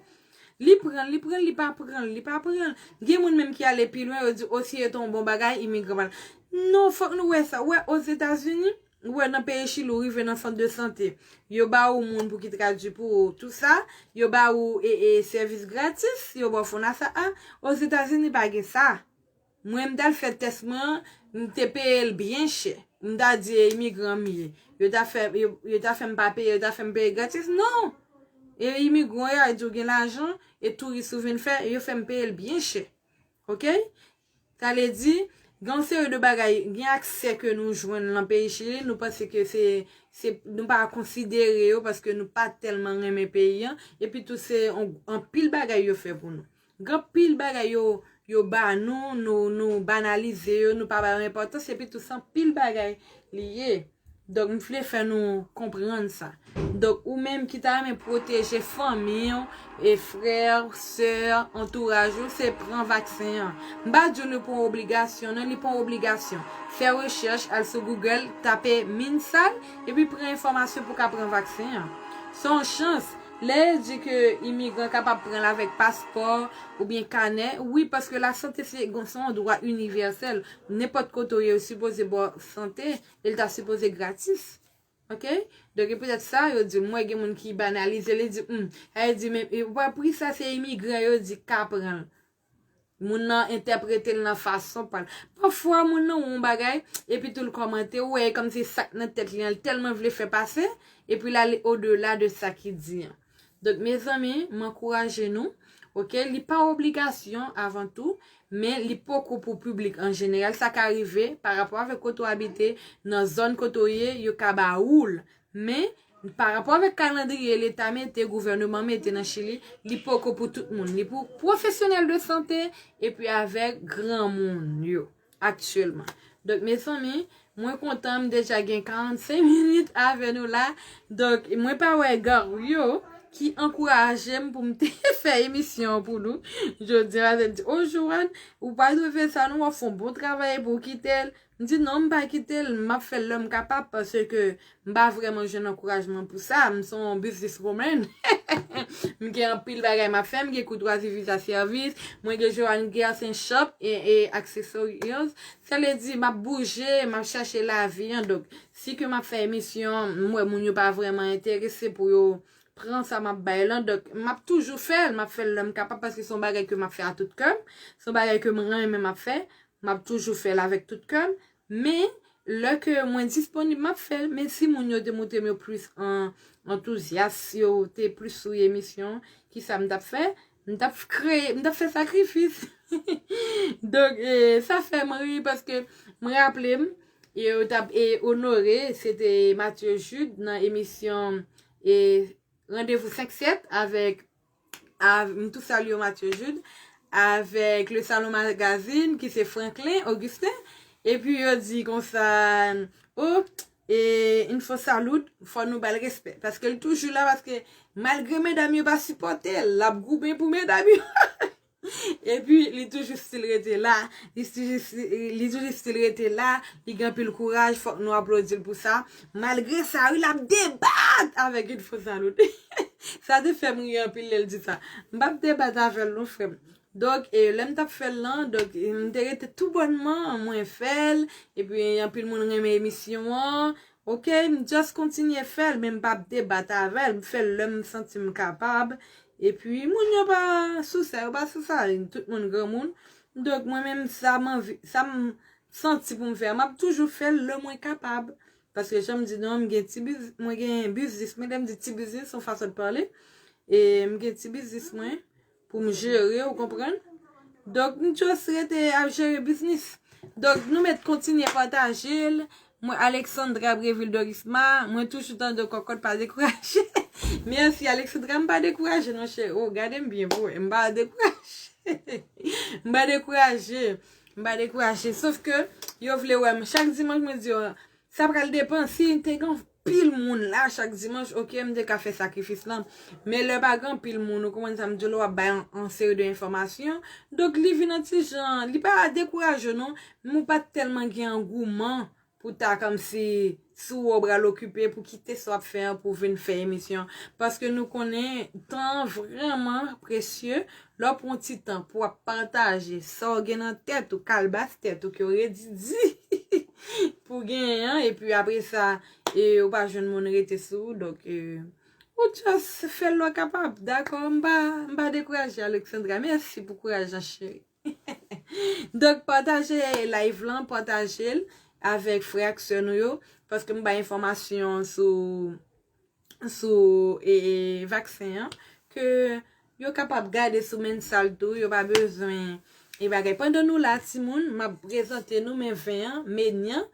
Li pranl, li pranl, li pa pranl, li pa pranl. Gen moun menm ki ale pi lwen, yo di o si e te yon bon bagay, imigran pa. Non, fòk nou wè sa. Ou wè Ozetazini, Ou wè nan peyi chili ou rive nan sant de sante yo ba ou moun pou ki tradwi pou ou tout sa yo ba ou e e sèvis gratis yo ba ou fonasa a ozetazini pa gen sa mwen m tal fè tès mwen an m te peye l byen chè m ta di e imigran m ye yo ta fè yo ta fè m pa peye yo ta fè m peye gratis non e imigran yo a di ou gen lajan e touris ou vin fè yo fè m peye l byen chè ok Sa vle di, gen yon seri de bagay, gen aksè ke nou jwenn lan peyi Chili, nou panse ke se, se, nou pa konsidere yo paske nou pa tèlman renmen peyi an, epi tou se yon, anpil bagay yo fè pou nou. Gen anpil bagay yo, yo ba nou, nou, nou banalize yo, nou pa ba yo enpòtans, epi tou se anpil bagay li ye. Donk m vle fè nou konprann sa. Donk ou menm ki ta renmen pwoteje fanmi w, e frè, sè, antouraj ou se pran vaksen an. M pa di w li pou yon obligasyon non, li pa yon obligasyon. Fè rechèch, al sou Google, tape Minsal, epi pran enfòmasyon pou w ka pran vaksen an. Se yon chans, lè yo di ke imigran kapab pran l avèk paspò, oubyen kanè, wi paske lasante se yon dwa inivèsèl, Nenpòt kote ou ye yo sipoze baw sante e li ta sipoze gratis ok donk e petèt sa yo di m wè gen moun ki banalize li di humm sa yo di men ou pa pri sa se imigran yo di ka pran l moun nan entèprete l nan fason pa l pafwa moun nan wè yon bagay epi tou l kòmante ou wè e kòmsi sak nan tèt li an li tèlman vle fè pase epi l ale odela de sa ki di an. Donk mezanmi m ankouraje nou ok li pa obligasyon avan tou men li poko pou piblik an jeneral sa ka rive pa rapò avèk kote w abite nan zòn kote w ye yo ka ba ou l men pa rapò avèk kalandriye leta mete gouvèneman mete nan chili li poko pou tout moun li pou pwofesyonèl de sante epi avèk granmoun yo. aktyèlman. Donk mezanmi, mwen kontan m deja gen 45 minit avè nou la. Donk mwen pa wè Gario ki ankouraje m pou m te fè emisyon an pou nou jodi a. Paske l di, o Joanne, ou pa dwe fè sa non, w ap fè yon bon travay epi w kite l. M di non m pa kite l, m ap fè l lè m kapab paske. M pa vrèman jwenn ankourajman pou sa, m son yon business woman, m gen anpil bagay m ap fè, m gen koutwazi viza sèvis, mwen gen Johanne Guertin Shop e Accessorios, sa vle di m ap bouje, m ap chache lavi an, donk si ke m ap fè emisyon, m wè moun yo pa vrèman enterese pou yo pran sa m ap bay lan, donk m ap toujou fè l, m ap fè l lè m kapab paske son bagay ke m ap fè a tout kè m, son bagay ke m renmen m ap fè, m ap toujou fè l avèk tout kè m. Men lè ke mwen disponib map fèl men si moun yo te moutrem yo plis antouzyas si yo te plis souye emisyon kisa m tap fè m tap kreye m tap fè sakrifis donk sa fèm ri paske m raplem yo tap onore se te Mathieu Jude nan emisyon randevou 5 7 avèk avk m tou salye w Mathieu Jude avèk le salon magazine ki se Franklin Augustin epi yo di konsa oh e il faut salud fò nou bal respè paske l toujou la paske malgre medam yo pa sipòte l lap goumen pou medam yo. Epi li toujou stil rete la, li toujou stil rete la, li gen anpil kouraj fòk nou aplodil pou sa, malgre sa wi lap debat avèk yn fo zalote, sa te fèm ri anpil lèl di sa, m pap debat avèl non frèm, donk lèm tap fèl lan, donk m te rete tou bònman mwen fèl, epi anpil moun renmen emisyon an, Ok m just kontinye fèl men m pap debat avèl m fèl lèm santim kapab epi moun yo pa sou sa yo pa sou sa tout moun granmoun donk mwen menm sa m anvi sa m Santi pou m fè a map toujou fèl lè mwen kapab paske janm di nou an m gen ti biz mwen gen biznis mwen lèm di ti biznis son fason de parler e m gen ti biznis mwen. Pou m jere ou konprann. Donk m just rete ap jere biznis. Donk nou met kontinye pataje l. Mwen Alexandra Brevil Dorisma. Mwen toujou tande w kòkòt pa dekouraje. Merci Alexandra m pa dekouraje non cheri. Oh gade m byen pou wè. M pa dekouraje. M pa dekouraje. M pa dekouraje. Sof ke yo vle wè m. Chak dimanch mwen di yo sa pral depan si te gen yon. pil moun la chak dimanch ok m te ka fè sakrifis lan men lè pa gen anpil moun ou konprann sa m di w la w ap bay yon seri de enfòmasyon donk li vin yon ti jan li pa dekouraje w non men ou pa tèlman gen angouman pou w ta kòmsi sou wè w pral okipe pou kite sa w ap fè an pou w vin fè emisyon paske nou konnen tan an vrèman presye Lè w pran yon ti tan pou w ap pataje sa w gen nan tèt ou, kalbas tèt ou ke w redi di pou w genyen an, epi apre sa ou pa jwenn moun rete sou ou, donk ou just fè lè w kapab, dakò? M pa dekouraje Alexandra, mèsi pou kouraj lan cheri. Donk pataje live lan, pataje l avèk frè ak sè nou yo, paske m bay enfòmasyon sou. sou vaksen an ke yo kapab gade sou mensal tou yo pa bezwen e bagay pandan nou la timoun map prezante nou men ven an menyan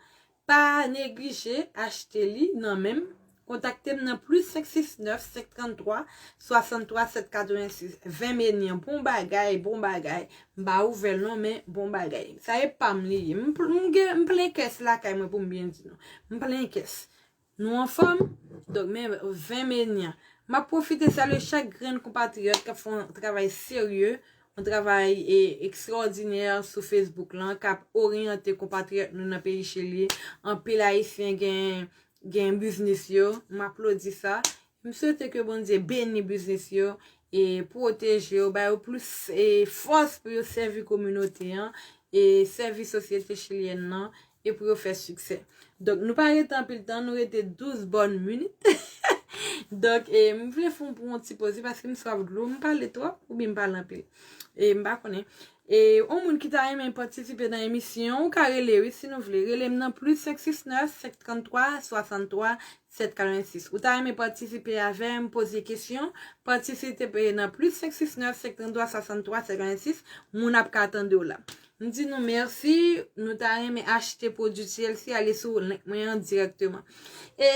pa neglije achte li nan menm kontakte m nan plis 569 533 63 786 ven menyan bon bagay bon bagay m pa ouvèl non men bon bagay sa e pam li ye m plen kès lakay mwen pou m byen di nou m plen kès Nou anfòm? Donk men 20 me nyan. M ap pwofite salye chak grenn konpatriyòt k ap fè yon travay serye, yon travay ekstraòdinè sou Facebook lan, k ap oryante konpatriyòt nou nan peyi Chili. Anpil Ayisyen gen biznis yo. M aplodi sa. M swete ke Bondye beni biznis yo e pwoteje yo, ba yo plis fòs pou yo sèvi kominote an e sèvi sosyete chilyèn nan e pou yo fè siksè. Donk nou pa rete anpil tan, nou rete 12 bòn minit. Donk m vle fè yon bon ti poze paske m swaf dlo, m pale twòp oubyen m pale anpil. E m pa konnen. E yon moun ki ta renmen patisipe nan emisyon, ou ka rele wi si nou vle. Rele m nan plis 569 533 63 746. Ou ta renmen patisipe avè m poze kesyon? Patisipe nan plis 569 533 63 56 moun ap ka tande w la. M di nou mèsi, nou ta renmen achte pwodui TLC ale sou link mwen an dirèkteman. E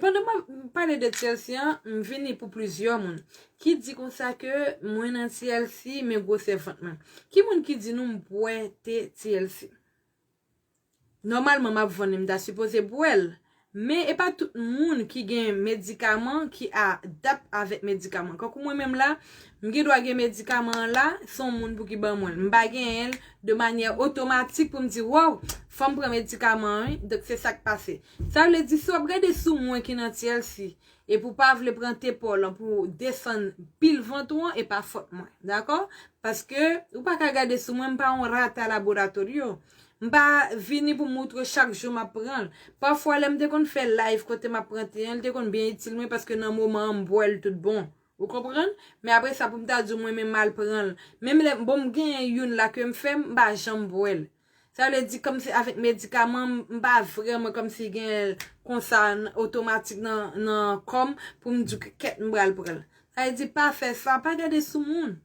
pandan m ap pale de TLC an, m vini pou plizyè moun ki di konsa ke mwen nan TLC men gwosè vant mwen. Ki moun ki di nou m bwè te TLC? Nòmalman map vann li m ta sipoze bwèl men e pa tout moun ki gen medikaman ki a dap avèk medikaman kankou mwen menm la m gen dwa gen medikaman an la son moun pou ki ban mwen l m pa genyen l de manyè otomatik pou m di waw fòm pran medikaman an wi donk se sak pase sa vle di si wap gade sou mwen ki nan tyèlsi Epi ou pa vle pran te paw lan pou desann pil vant ou an e pa fòt mwen. Dakò? Paske ou pa ka gade sou mwen m pa yon rata laboratorio. M pa vini pou moutre w chak jou map pran l. Pafwa lè m te konn fè live kote map pran te an li te konn byen itil mwen paske nan moman an m bwè l tout bon. Ou konprann? Men apre sa pou m ta di w mwen menm mal pran l. Menm lè bon m genyen youn la ke m fè m pa janm bwè l. Sa vle di kòmsi avèk medikaman m pa vrèman kòmsi gen konsa otomatik nan kò m pou m di kèt m pral pran l. Sa vle di pa fè sa, pa gade sou moun.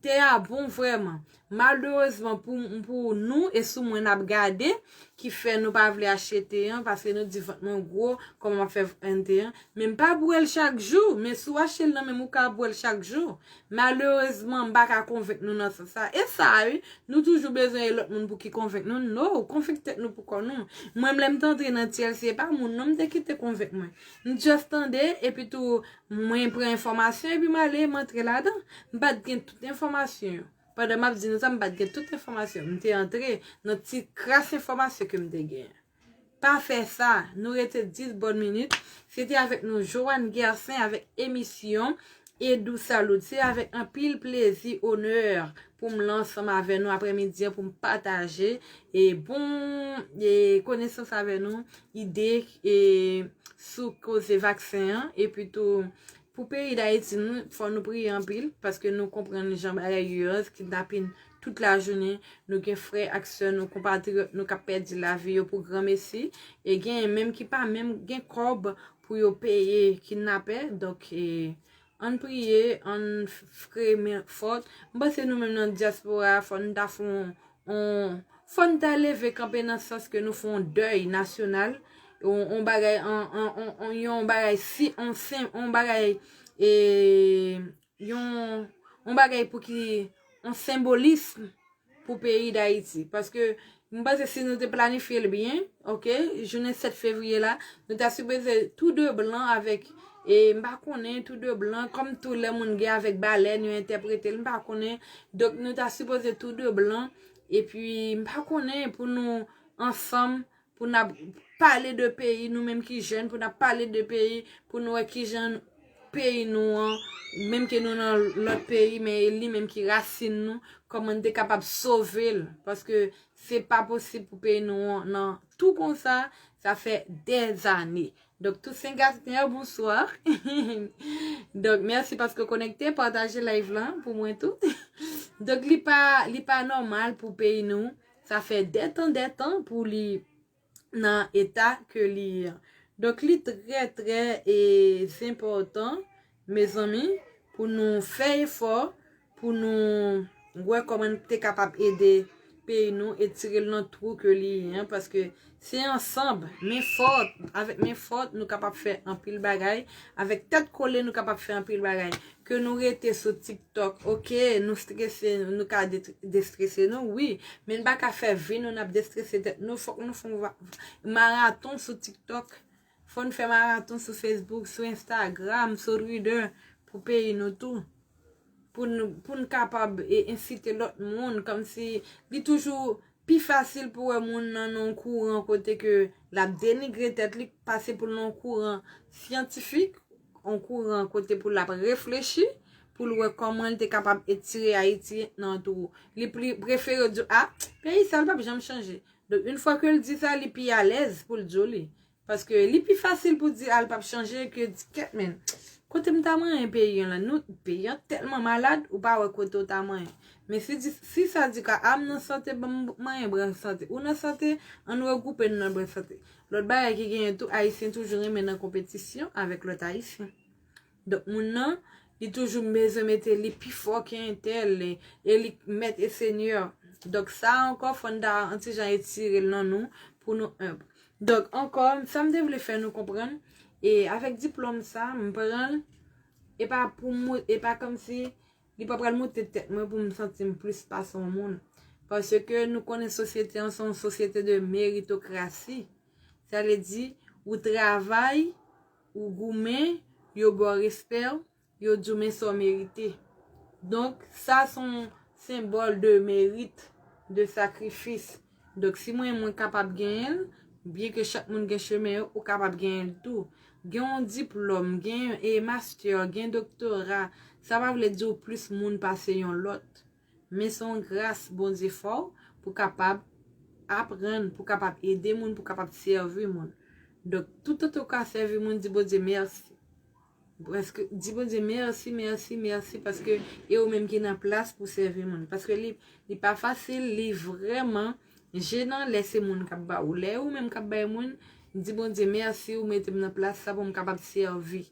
Te a bon vrèman. Malerezman pou nou e sou mwen n ap gade ki fè nou pa vle achte te an paske nou di vant mwen gwo kòman m ap fè vant te an. Men m pa bwè l chak jou. Men si w achte l nan men m ou ka bwè l chak jou. Malerezman, m pa ka konvenk nou nan sans sa. E sa a wi, nou toujou bezwen lòt moun pou ki konvenk nou. No! Konvenk tèt nou pou kò nou. Mwenm lè m te antre nan TLC, e pa moun non m te kite konvenk mwen. M just tande, epi tou, mwen pran enfòmasyon epi m ale, m antre ladan. M pa t gen tout enfòmasyon yo. Pandan m ap di nou sa, m pa t gen tout enfòmasyon. M te antre nan ti kras enfòmasyon ke m te gen. Pa fè sa! Nou rete 10 bòn minit. Se te avèk nou Johanne Guercin avèk emisyon Edou Salout. Se avèk anpil plezi, onè pou m la ansanm avè nou aprè midi an pou m pataje e bon e konesans avè nou, ide e sou koze vaksen an e pi tou pou peyi Dayiti nou fò nou priye anpil paske nou konprann jan bagay yo ye an kidnapin Tout lajounen, nou gen frè ak sè nou, konpatriyòt nou k ap pèdi lavi yo pou granmesi, e genyen menm ki pa menm gen kòb pou yo peye kidnapè. Donk, ann priye, ann fre men fòt. M panse nou menm nan dyaspora a, fò n ta fè yon, fò n ta leve kanpe nan sans ke nou fè yon dèy nasyonal, yon bagay, yon bagay si, yon bagay, yon bagay pou ki yon senbolism pou peyi Dayiti. Paske, mwen panse si nou te planifye l byen, ok, jounen 7 fevriye la, nou ta sipoze tou de blan avèk, e m pa konnen, tou de blan, kòm tou lè moun gen avèk balèn, yo entèprete l, m pa konnen, donk nou ta sipoze tou de blan, epi m pa konnen pou nou ansanm, Pou nap pale de peyi nou menm ki jèn pou nap pale de peyi pou nou wè kijan peyi nou an menm ke nou nan lòt peyi men e li menm ki rasin nou kòman nou te kapab sove l paske se pa posib pou peyi nou an nan tou konsa sa fè dè zane donk Tousen Gaspner bonswa donk mèsi paske ou konekte pataje live lan pou mwen tou donk li pa li pa nòmal pou peyi nou Sa fè dè tan dè tan pou li nan eta ke li an. Donk li trè trè e zenpòtan mezanmi pou nou fè efò pou nou wè kòman nou te kapab ede peyi nou e tire l nan twou ke li an paske Se ansanb, men fòt, avèk men fòt nou kapab fè anpil bagay, avèk tèt kole nou kapab fè anpil bagay. Ke nou rete sou tiktok ok, nou strese, nou ka destrese nou wi, men n pa ka fè vi nou n ap destrese tèt nou, fòk nou fè yon maraton sou tiktok. Fò n fè maraton sou Facebook, sou Instagram, sou Twitter pou peyi nou tou. Pou n kapab ensite lòt moun kòmsi li toujou pi fasil pou wè moun nan yon kouran kote ke l ap denigre tèt li pase pou l nan yon kouran syantifik, yon kouran kote pou l ap reflechi, pou l wè kòman l te kapab etire Ayiti nan twou. Li prefere di w, a, peyi sa l pa p janm chanje. Donk yn fwa kel di sa li pi alèz poul t joli. Paske li pi fasil pou di al pap chanje ke di ket men. Kotem ta manyen peyi an la nou peyi an telman malad ou pa wè kote ou ta manyen. Men si di si sa di ka am nan sante banm manyen bran sante ou nan sante ann regroupe nou nan bran sante. Lot bagay ki genyen tou ayisyen toujou renmen nan konpetisyon avek lot ayisyen. Donk moun nan, li toujou bezwen mete li pi fò ke entèl, e li mèt e senyè. Donk sa a ankò fò n ta an ti jan etire l nan nou pou nou enb. Donk ankò, sa m te vle fè nou konprann, e avèk diplòm sa a, m pran l, e pa pou m, e pa kòmsi li pa pral moute tèt mwen pou m santi m plis pase yon moun. Paske nou konnen sosyete an se yon sosyete de meritokrasi. Sa vle di, ou travay. Ou goumen, yo ba w respè, yo di w men sa w merite. Donk, sa se yon senbòl de merit, de sakrifis. Donk, si mwen mwen kapab genyen l, byen ke chak moun gen chemen yo, ou kapab genyen l tou. Gen yon diplòm, gen yon mastè, gen doktora, sa pa vle di w plis moun pase yon lòt. Men se yon gras Bondye fè w pou kapab aprann, pou kapab ede moun, pou kapab sèvi moun. Donk, toutotan ou ka sèvi moun, di Bondye mèsi. Paske, di Bondye mèsi, mèsi, mèsi paske e ou menm ki nan plas pou sèvi moun. Paske li, li pa fasil, li vrèman jenan lè se moun k ap ba ou. Lè e ou menm k ap bay moun, di Bondye mèsi ou mete m nan plas sa pou m kapab sèvi.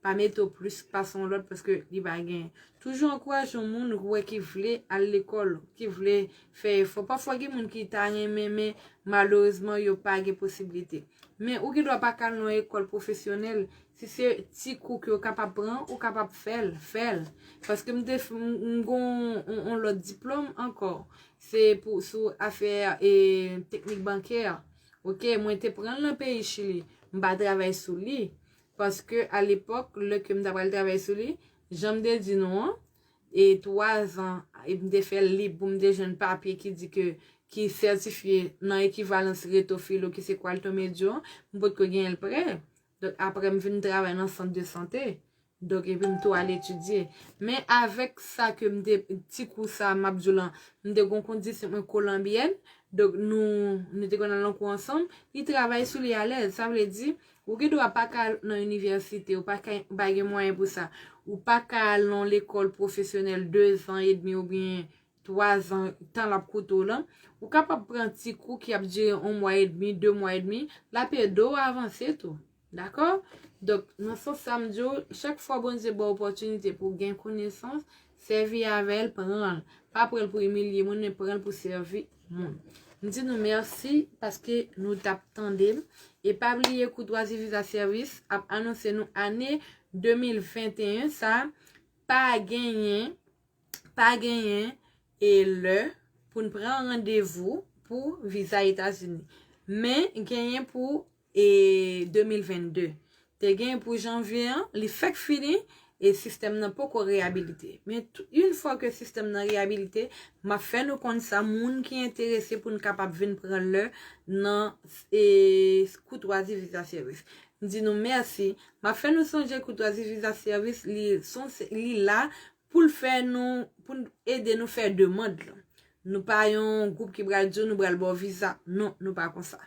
Pa mete w plis pase yon lòt paske li pa gen. Toujou ankouraje yon moun ou wè ki vle al lekòl, ki vle fè efò. Pafwa gen moun ki ta renmen men malerezman yo pa gen posiblite. Men ou gen dwa pa ka al nan yon ekòl pwofesyonèl, si se ti kou ke w kapab pran, ou kapab fè l, fè l. Paske m te, m gen yon lòt diplòm ankò, se pou sou afè e teknik bankè. Ok, mwen te pran l nan peyi Chili, m pa travay sou li. Paske a lepòk, lè ke m ta pral travay sou li, jan m te di nou an, e 3 zan e m te fè l lib pou m te jwenn papye ki di ke ki sètifye nan ekivalans Reto Filo ki se Qualto Medio an, m potko genyen l prè. Donk aprè m vin travay nan sant de sante. Donk epi m tou al etidye. Men avèk sa ke m te, ti kou sa a m ap di w lan, m te gon kondisip mwen Kolanbyèn, donk nou, nou te konn al nan kou ansanm, li travay sou li alèz. Sa vle di, Ou gen dwa pa ka al nan inivèsite, ou pa ka, ou pa gen mwayen pou sa. Ou pa ka al nan yon lekòl pwofesyonèl dezan edmi oubyen twazan, tan l ap koute w lan. Ou kapab pran ti kou ki ap dire yon mwa edmi, de mwa edmi, l ap ede w avanse tou. Dakò? Donk, nan sans sa m di w, chak fwa Bondye ba w opòtinite pou w gen konesans, sèvi avè l, pran l. Pa pran l pou imilye moun, men pran l pou sèvi moun. M di nou mèsi paske nou t ap tande m. E pa bliye Courtoisie Visa Service ap anonse nou ane 2021 sa pa genyen pa genyen e lè pou n pran randevou pou viza Etazini. Men genyen pou e 2022 te gen pou janvye an li fèk fini e sistèm nan poko reyabilite men yn fwa ke sistèm nan reyabilite map fè nou konn sa moun ki enterese pou n kapab vin pran lè nan e koutwazi viza sèvis m di nou mèsi map fè nou sonje koutwazi viza sèvis li son li la pou l fè nou, pou l ede nou fè demand lan. Nou pa yon gwoup ki pral di w nou pral ba w viza. Non, nou pa konsa.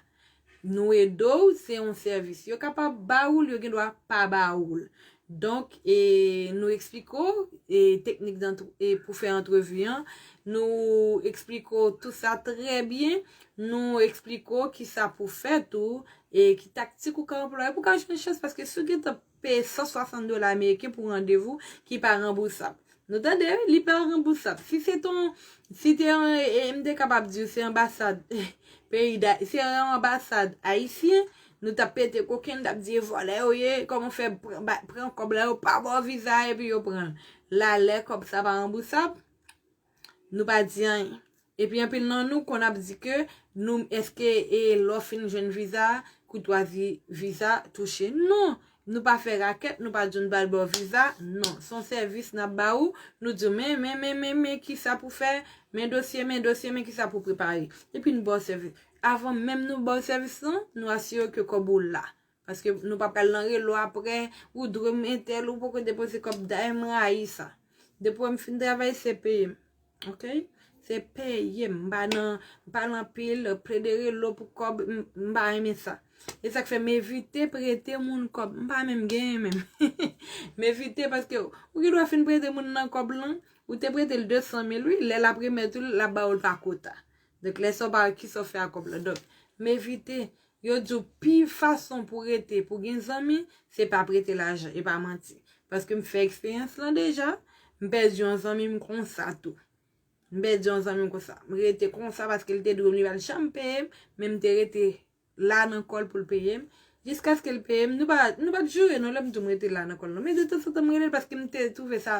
Nou ede w, se yon sèvis. Yo kapab ba ou l, yo gen dwa pa ba ou l. Donk, e nou eksplike w, e teknik dan, e pou fè antrevi an, nou eksplike w tout sa trè byen, nou eksplike w ki sa pou fè tou, e ki taktik ou ka anplwaye pou ka jwenn chans, paske si w gentan peye 160 dola ameriken pou randevou ki pa ranbousab. Nou tande wi, li pa ranbousab. Si se ton, si te yon, m te kapab di w se anbasad peyi da, se yon anbasad ayisyen, nou tap pete koken, nou tap di e vòlè yo ye, kòman w fè pran kòb la, yo pa ba w viza a epi yo pran l. La lè kòb sa pa ranbousab? Nou pa di anyen. Epi anpil nan nou konn ap di ke nou eske e lè w fin jwenn viza a, koutwazi viza touche. Non! Nou pa fè rakèt, nou pa di w n pral ba w viza, non. S on sèvis n ap ba ou, nou di w men, men, men, men, men kisa pou fè, men dosye, men dosye, men kisa pou prepare. Epi n ba w sèvis. Avan menm nou ba w sèvis lan, nou asire w ke kòb ou la. Paske nou pa pral nan relo aprè, ou dwe m entel, ou poko depoze kob dayè m rayi sa. Depo m fin travay se peye m. Ok. Se peye m. M pa nan, m pa nan pil plede relo pou kob, m pa renmen sa. E sak fè m evite prete moun kob. M pa menm genyen menm. M evite paske ou gen dwa fin prete moun nan kob lan, ou te prete l 200 mil wi, lè lap remèt ou l, lap ba ou l pa kota. Donk lè sa w pa wè kisa w fè ak kob lan. Donk m evite. Yo di w pi fason pou rete pou gen zanmi se pa prete lajan e pa manti. Paske m fè eksperyans lan deja, m pèdi yon zanmi m konsa tou. M pèdi yon zanmi m konsa. M rete konsa paske l te dwe m li pa t janm peye m, men m te rete la nan kò l pou l peye m. Jiskaske l peye m, nou pa t jure non lè m di w m rete la nan kò l non. Men detansantan m rele l paske m te twouve sa.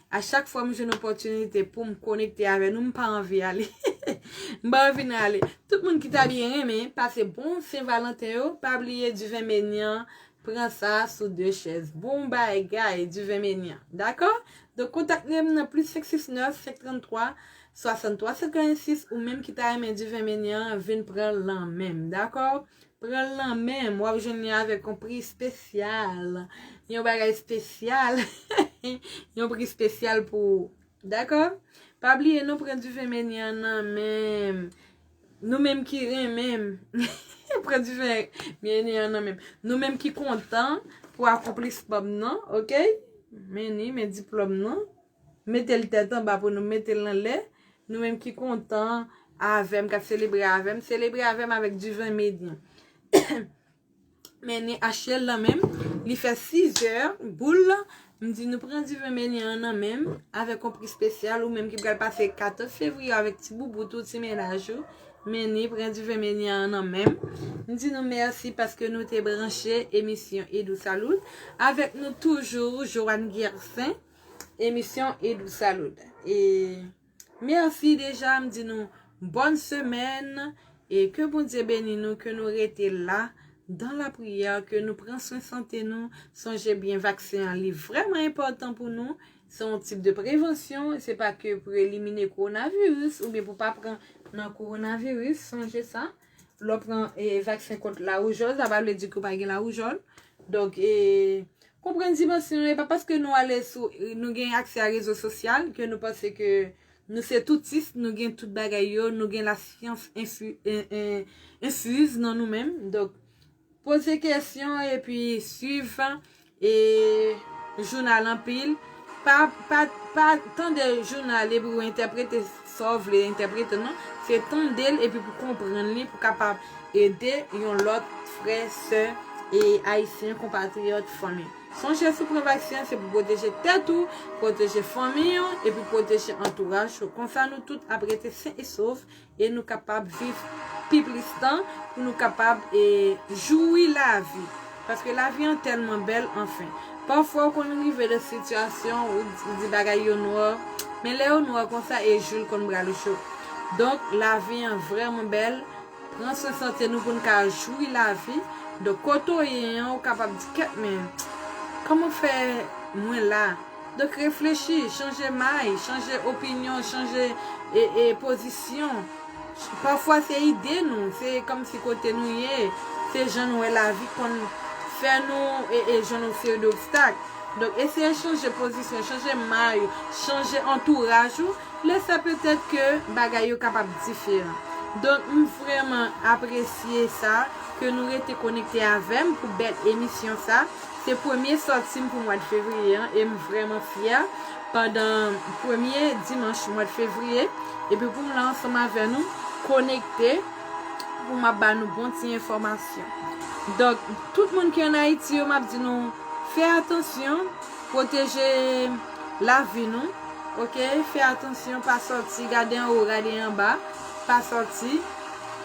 A chak fwa m jwenn opòtinite pou m konekte avè nou, m pa anvi ale. M pa anvi nan ale. Tout moun ki ta byen renmen pase bon Sen Valanten yo, pa bliye Diven Menyan pran sa sou 2 chèz. Bon bagay Diven Menyan. Dakò? Donk kontakte m nan plis 569 533 63 56 ou menm ki ta renmen Diven Menyan vin pran l lan men m. Dakò? Pranl nan menm wap jwenn li avèk yon pri spesyal yon bagay spesyal yon pri spesyal pou ou dakò pa bliye nou pran diven meni an nan menm nou menm ki renmenm pran diven meni an nan menm nou menm ki kontan pou akonplisman m nan ok meni men diplòm nan. Mete l tèt anba pou nou mete l anlè Nou menm ki kontan avè m K ap selebre avè m Selebre avè m avèk diven mid nou Meni Ashley nan men m Li fè sizè boul la M di nou pran diven Meni an nan men m Avèk yon pri spesyal Ou menm ki pral pase 14 fevriye avèk ti boubout ou ti mennaj ou Meni pran diven Meni an nan men m M di nou mèsi paske nou te branche emisyon Edou Salout Avèk nou toujou Johanne Guercin Emisyon Edou Salut. E merci deja m di nou bonne semaine e ke Bondye beni nou ke nou rete la dans la prière ke nou pran swen sante nou sonje byen vaksen an li vreman enpotan pou nou se yon tip de prevansyon se pa ke pou elimine coronavirus oubyen pou pa pran nan coronavirus sonje sa. Lè w pran vaksen kont lawoujòl, sa pa vle di ke w pa gen lawoujòl. Donk, konprann dimansyon an. E pa paske nou ale sou, nou gen aksè a rezo sosyal, ke nou panse ke nou se toutis, nou gen tout bagay yo, nou gen lasyans enfuse nan nou menm. Donk. Poze kesyon epi swiv e jounal anpil. Pa pa tande jounal epi ou entèprete sa w vle entèprete non. Se tande l epi pou konprann li pou kapab ede yon lòt frè, sè e ayisyen konpatriyòt, fanmi. Sonje si w pran vaksen an se pou pwoteje tèt ou, pwoteje fanmi w epi pwoteje antouraj ou. Konsa nou tout ap rete sen e sof E nou kapab viv pi plis tan pou nou kapab joui lavi. Paske lavi an tèlman bèl anfen. Pafwa ou konn rive nan sitiyasyon ou di bagay yo nwa. Men lè yo nwa konsa e jou l konn pral jou. Donk lavi an vrèman bèl. Pran swen sante nou pou n ka joui lavi. Donk kote ou ye an ou kapab di kèt men kòman fè mwen la. Donk reflechi, chanje may, chanje opinyon, chanje pozisyon. Pafwa se ide nou, se kòmsi kote nou ye, se jan nou wè lavi konn fè nou jwenn yon seri dobstak. Donk eseye chanje pozisyon, chanje may ou, chanje antouraj ou, lè sa petèt ke bagay yo kapab diferan. Donk m vrèman apresye sa ke nou rete konekte avè m pou bèl emisyon sa. Se premye sòti m pou mwad fevriye an e m vrèman fyè pandan premye dimanch mwad fevriye epi pou m la ansanm avè nou konekte pou m ap ba nou bon ti enfòmasyon donk tout moun ki an ayiti yo m ap di nou fè atansyon pwoteje lavi nou ok fè atansyon pa sòti gade anwo gade anba pa sòti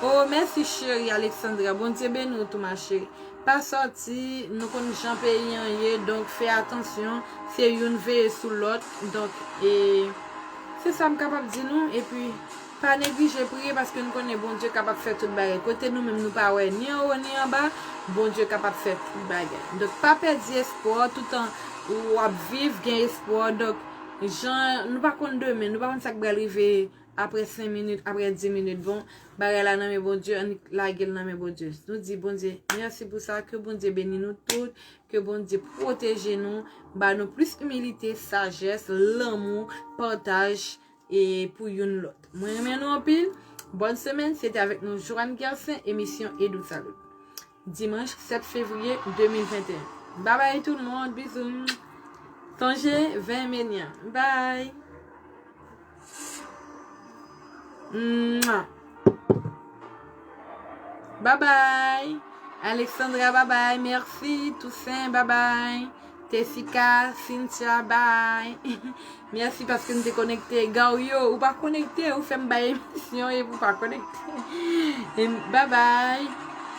oo mèsi cheri Alexandra Bondye beni w tou ma cheri. Pa sòti, nou konn jan peyi an ye donk fè atansyon, se youn veye sou lòt donk e se sa m kapab di nou epi pa neglije priye paske nou konnen Bondye kapab fè tout bagay kote nou menm nou pa wè ni anwo ni anba Bondye kapab fè tout bagay donk pa pèdi espwa w toutan w ap viv gen espwa w donk jan nou pa konn demen nou pa konn sa k pral rive Aprè 5 minit, aprè 10 minit, bon, bagay la nan men Bondye, annik lagel nan men Bondye. Nou di Bondye, mèsi pou sa, ke Bondye beni nou tout, ke Bondye pwoteje nou, ba nou plis imilite, sajès, lanmou, pataj, e pou youn lòt. Mwen renmen nou anpil, bòn semèn, se te avèk nou Joanne Guercin, emisyon Edou Salut. Dimanche 7 fevrier 2021 bye bye tout moun bisous mmmww sonje veye meni an bye mmmww bye bye Alexandra bye bye merci Toussaint bye bye. Tessica, Cynthia bye Merci paske nou te konekte Gario ou pa konekte ou fèm bay emisyon epi ou pa konekte Bye bye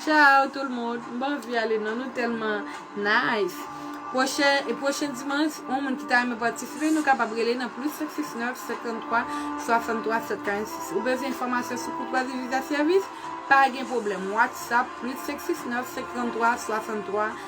Ciao tout le monde M'pa anvi ale non nou tèlman nice Pwochen e pwochen dimanche yon moun ki ta renmen patisipe nou kapab rele nan plus 569 53 63 746 Ou bezwen enfòmasyon sou koutwazi viza sèvis? Pa gen pwoblèm WhatsApp plus 569 53 63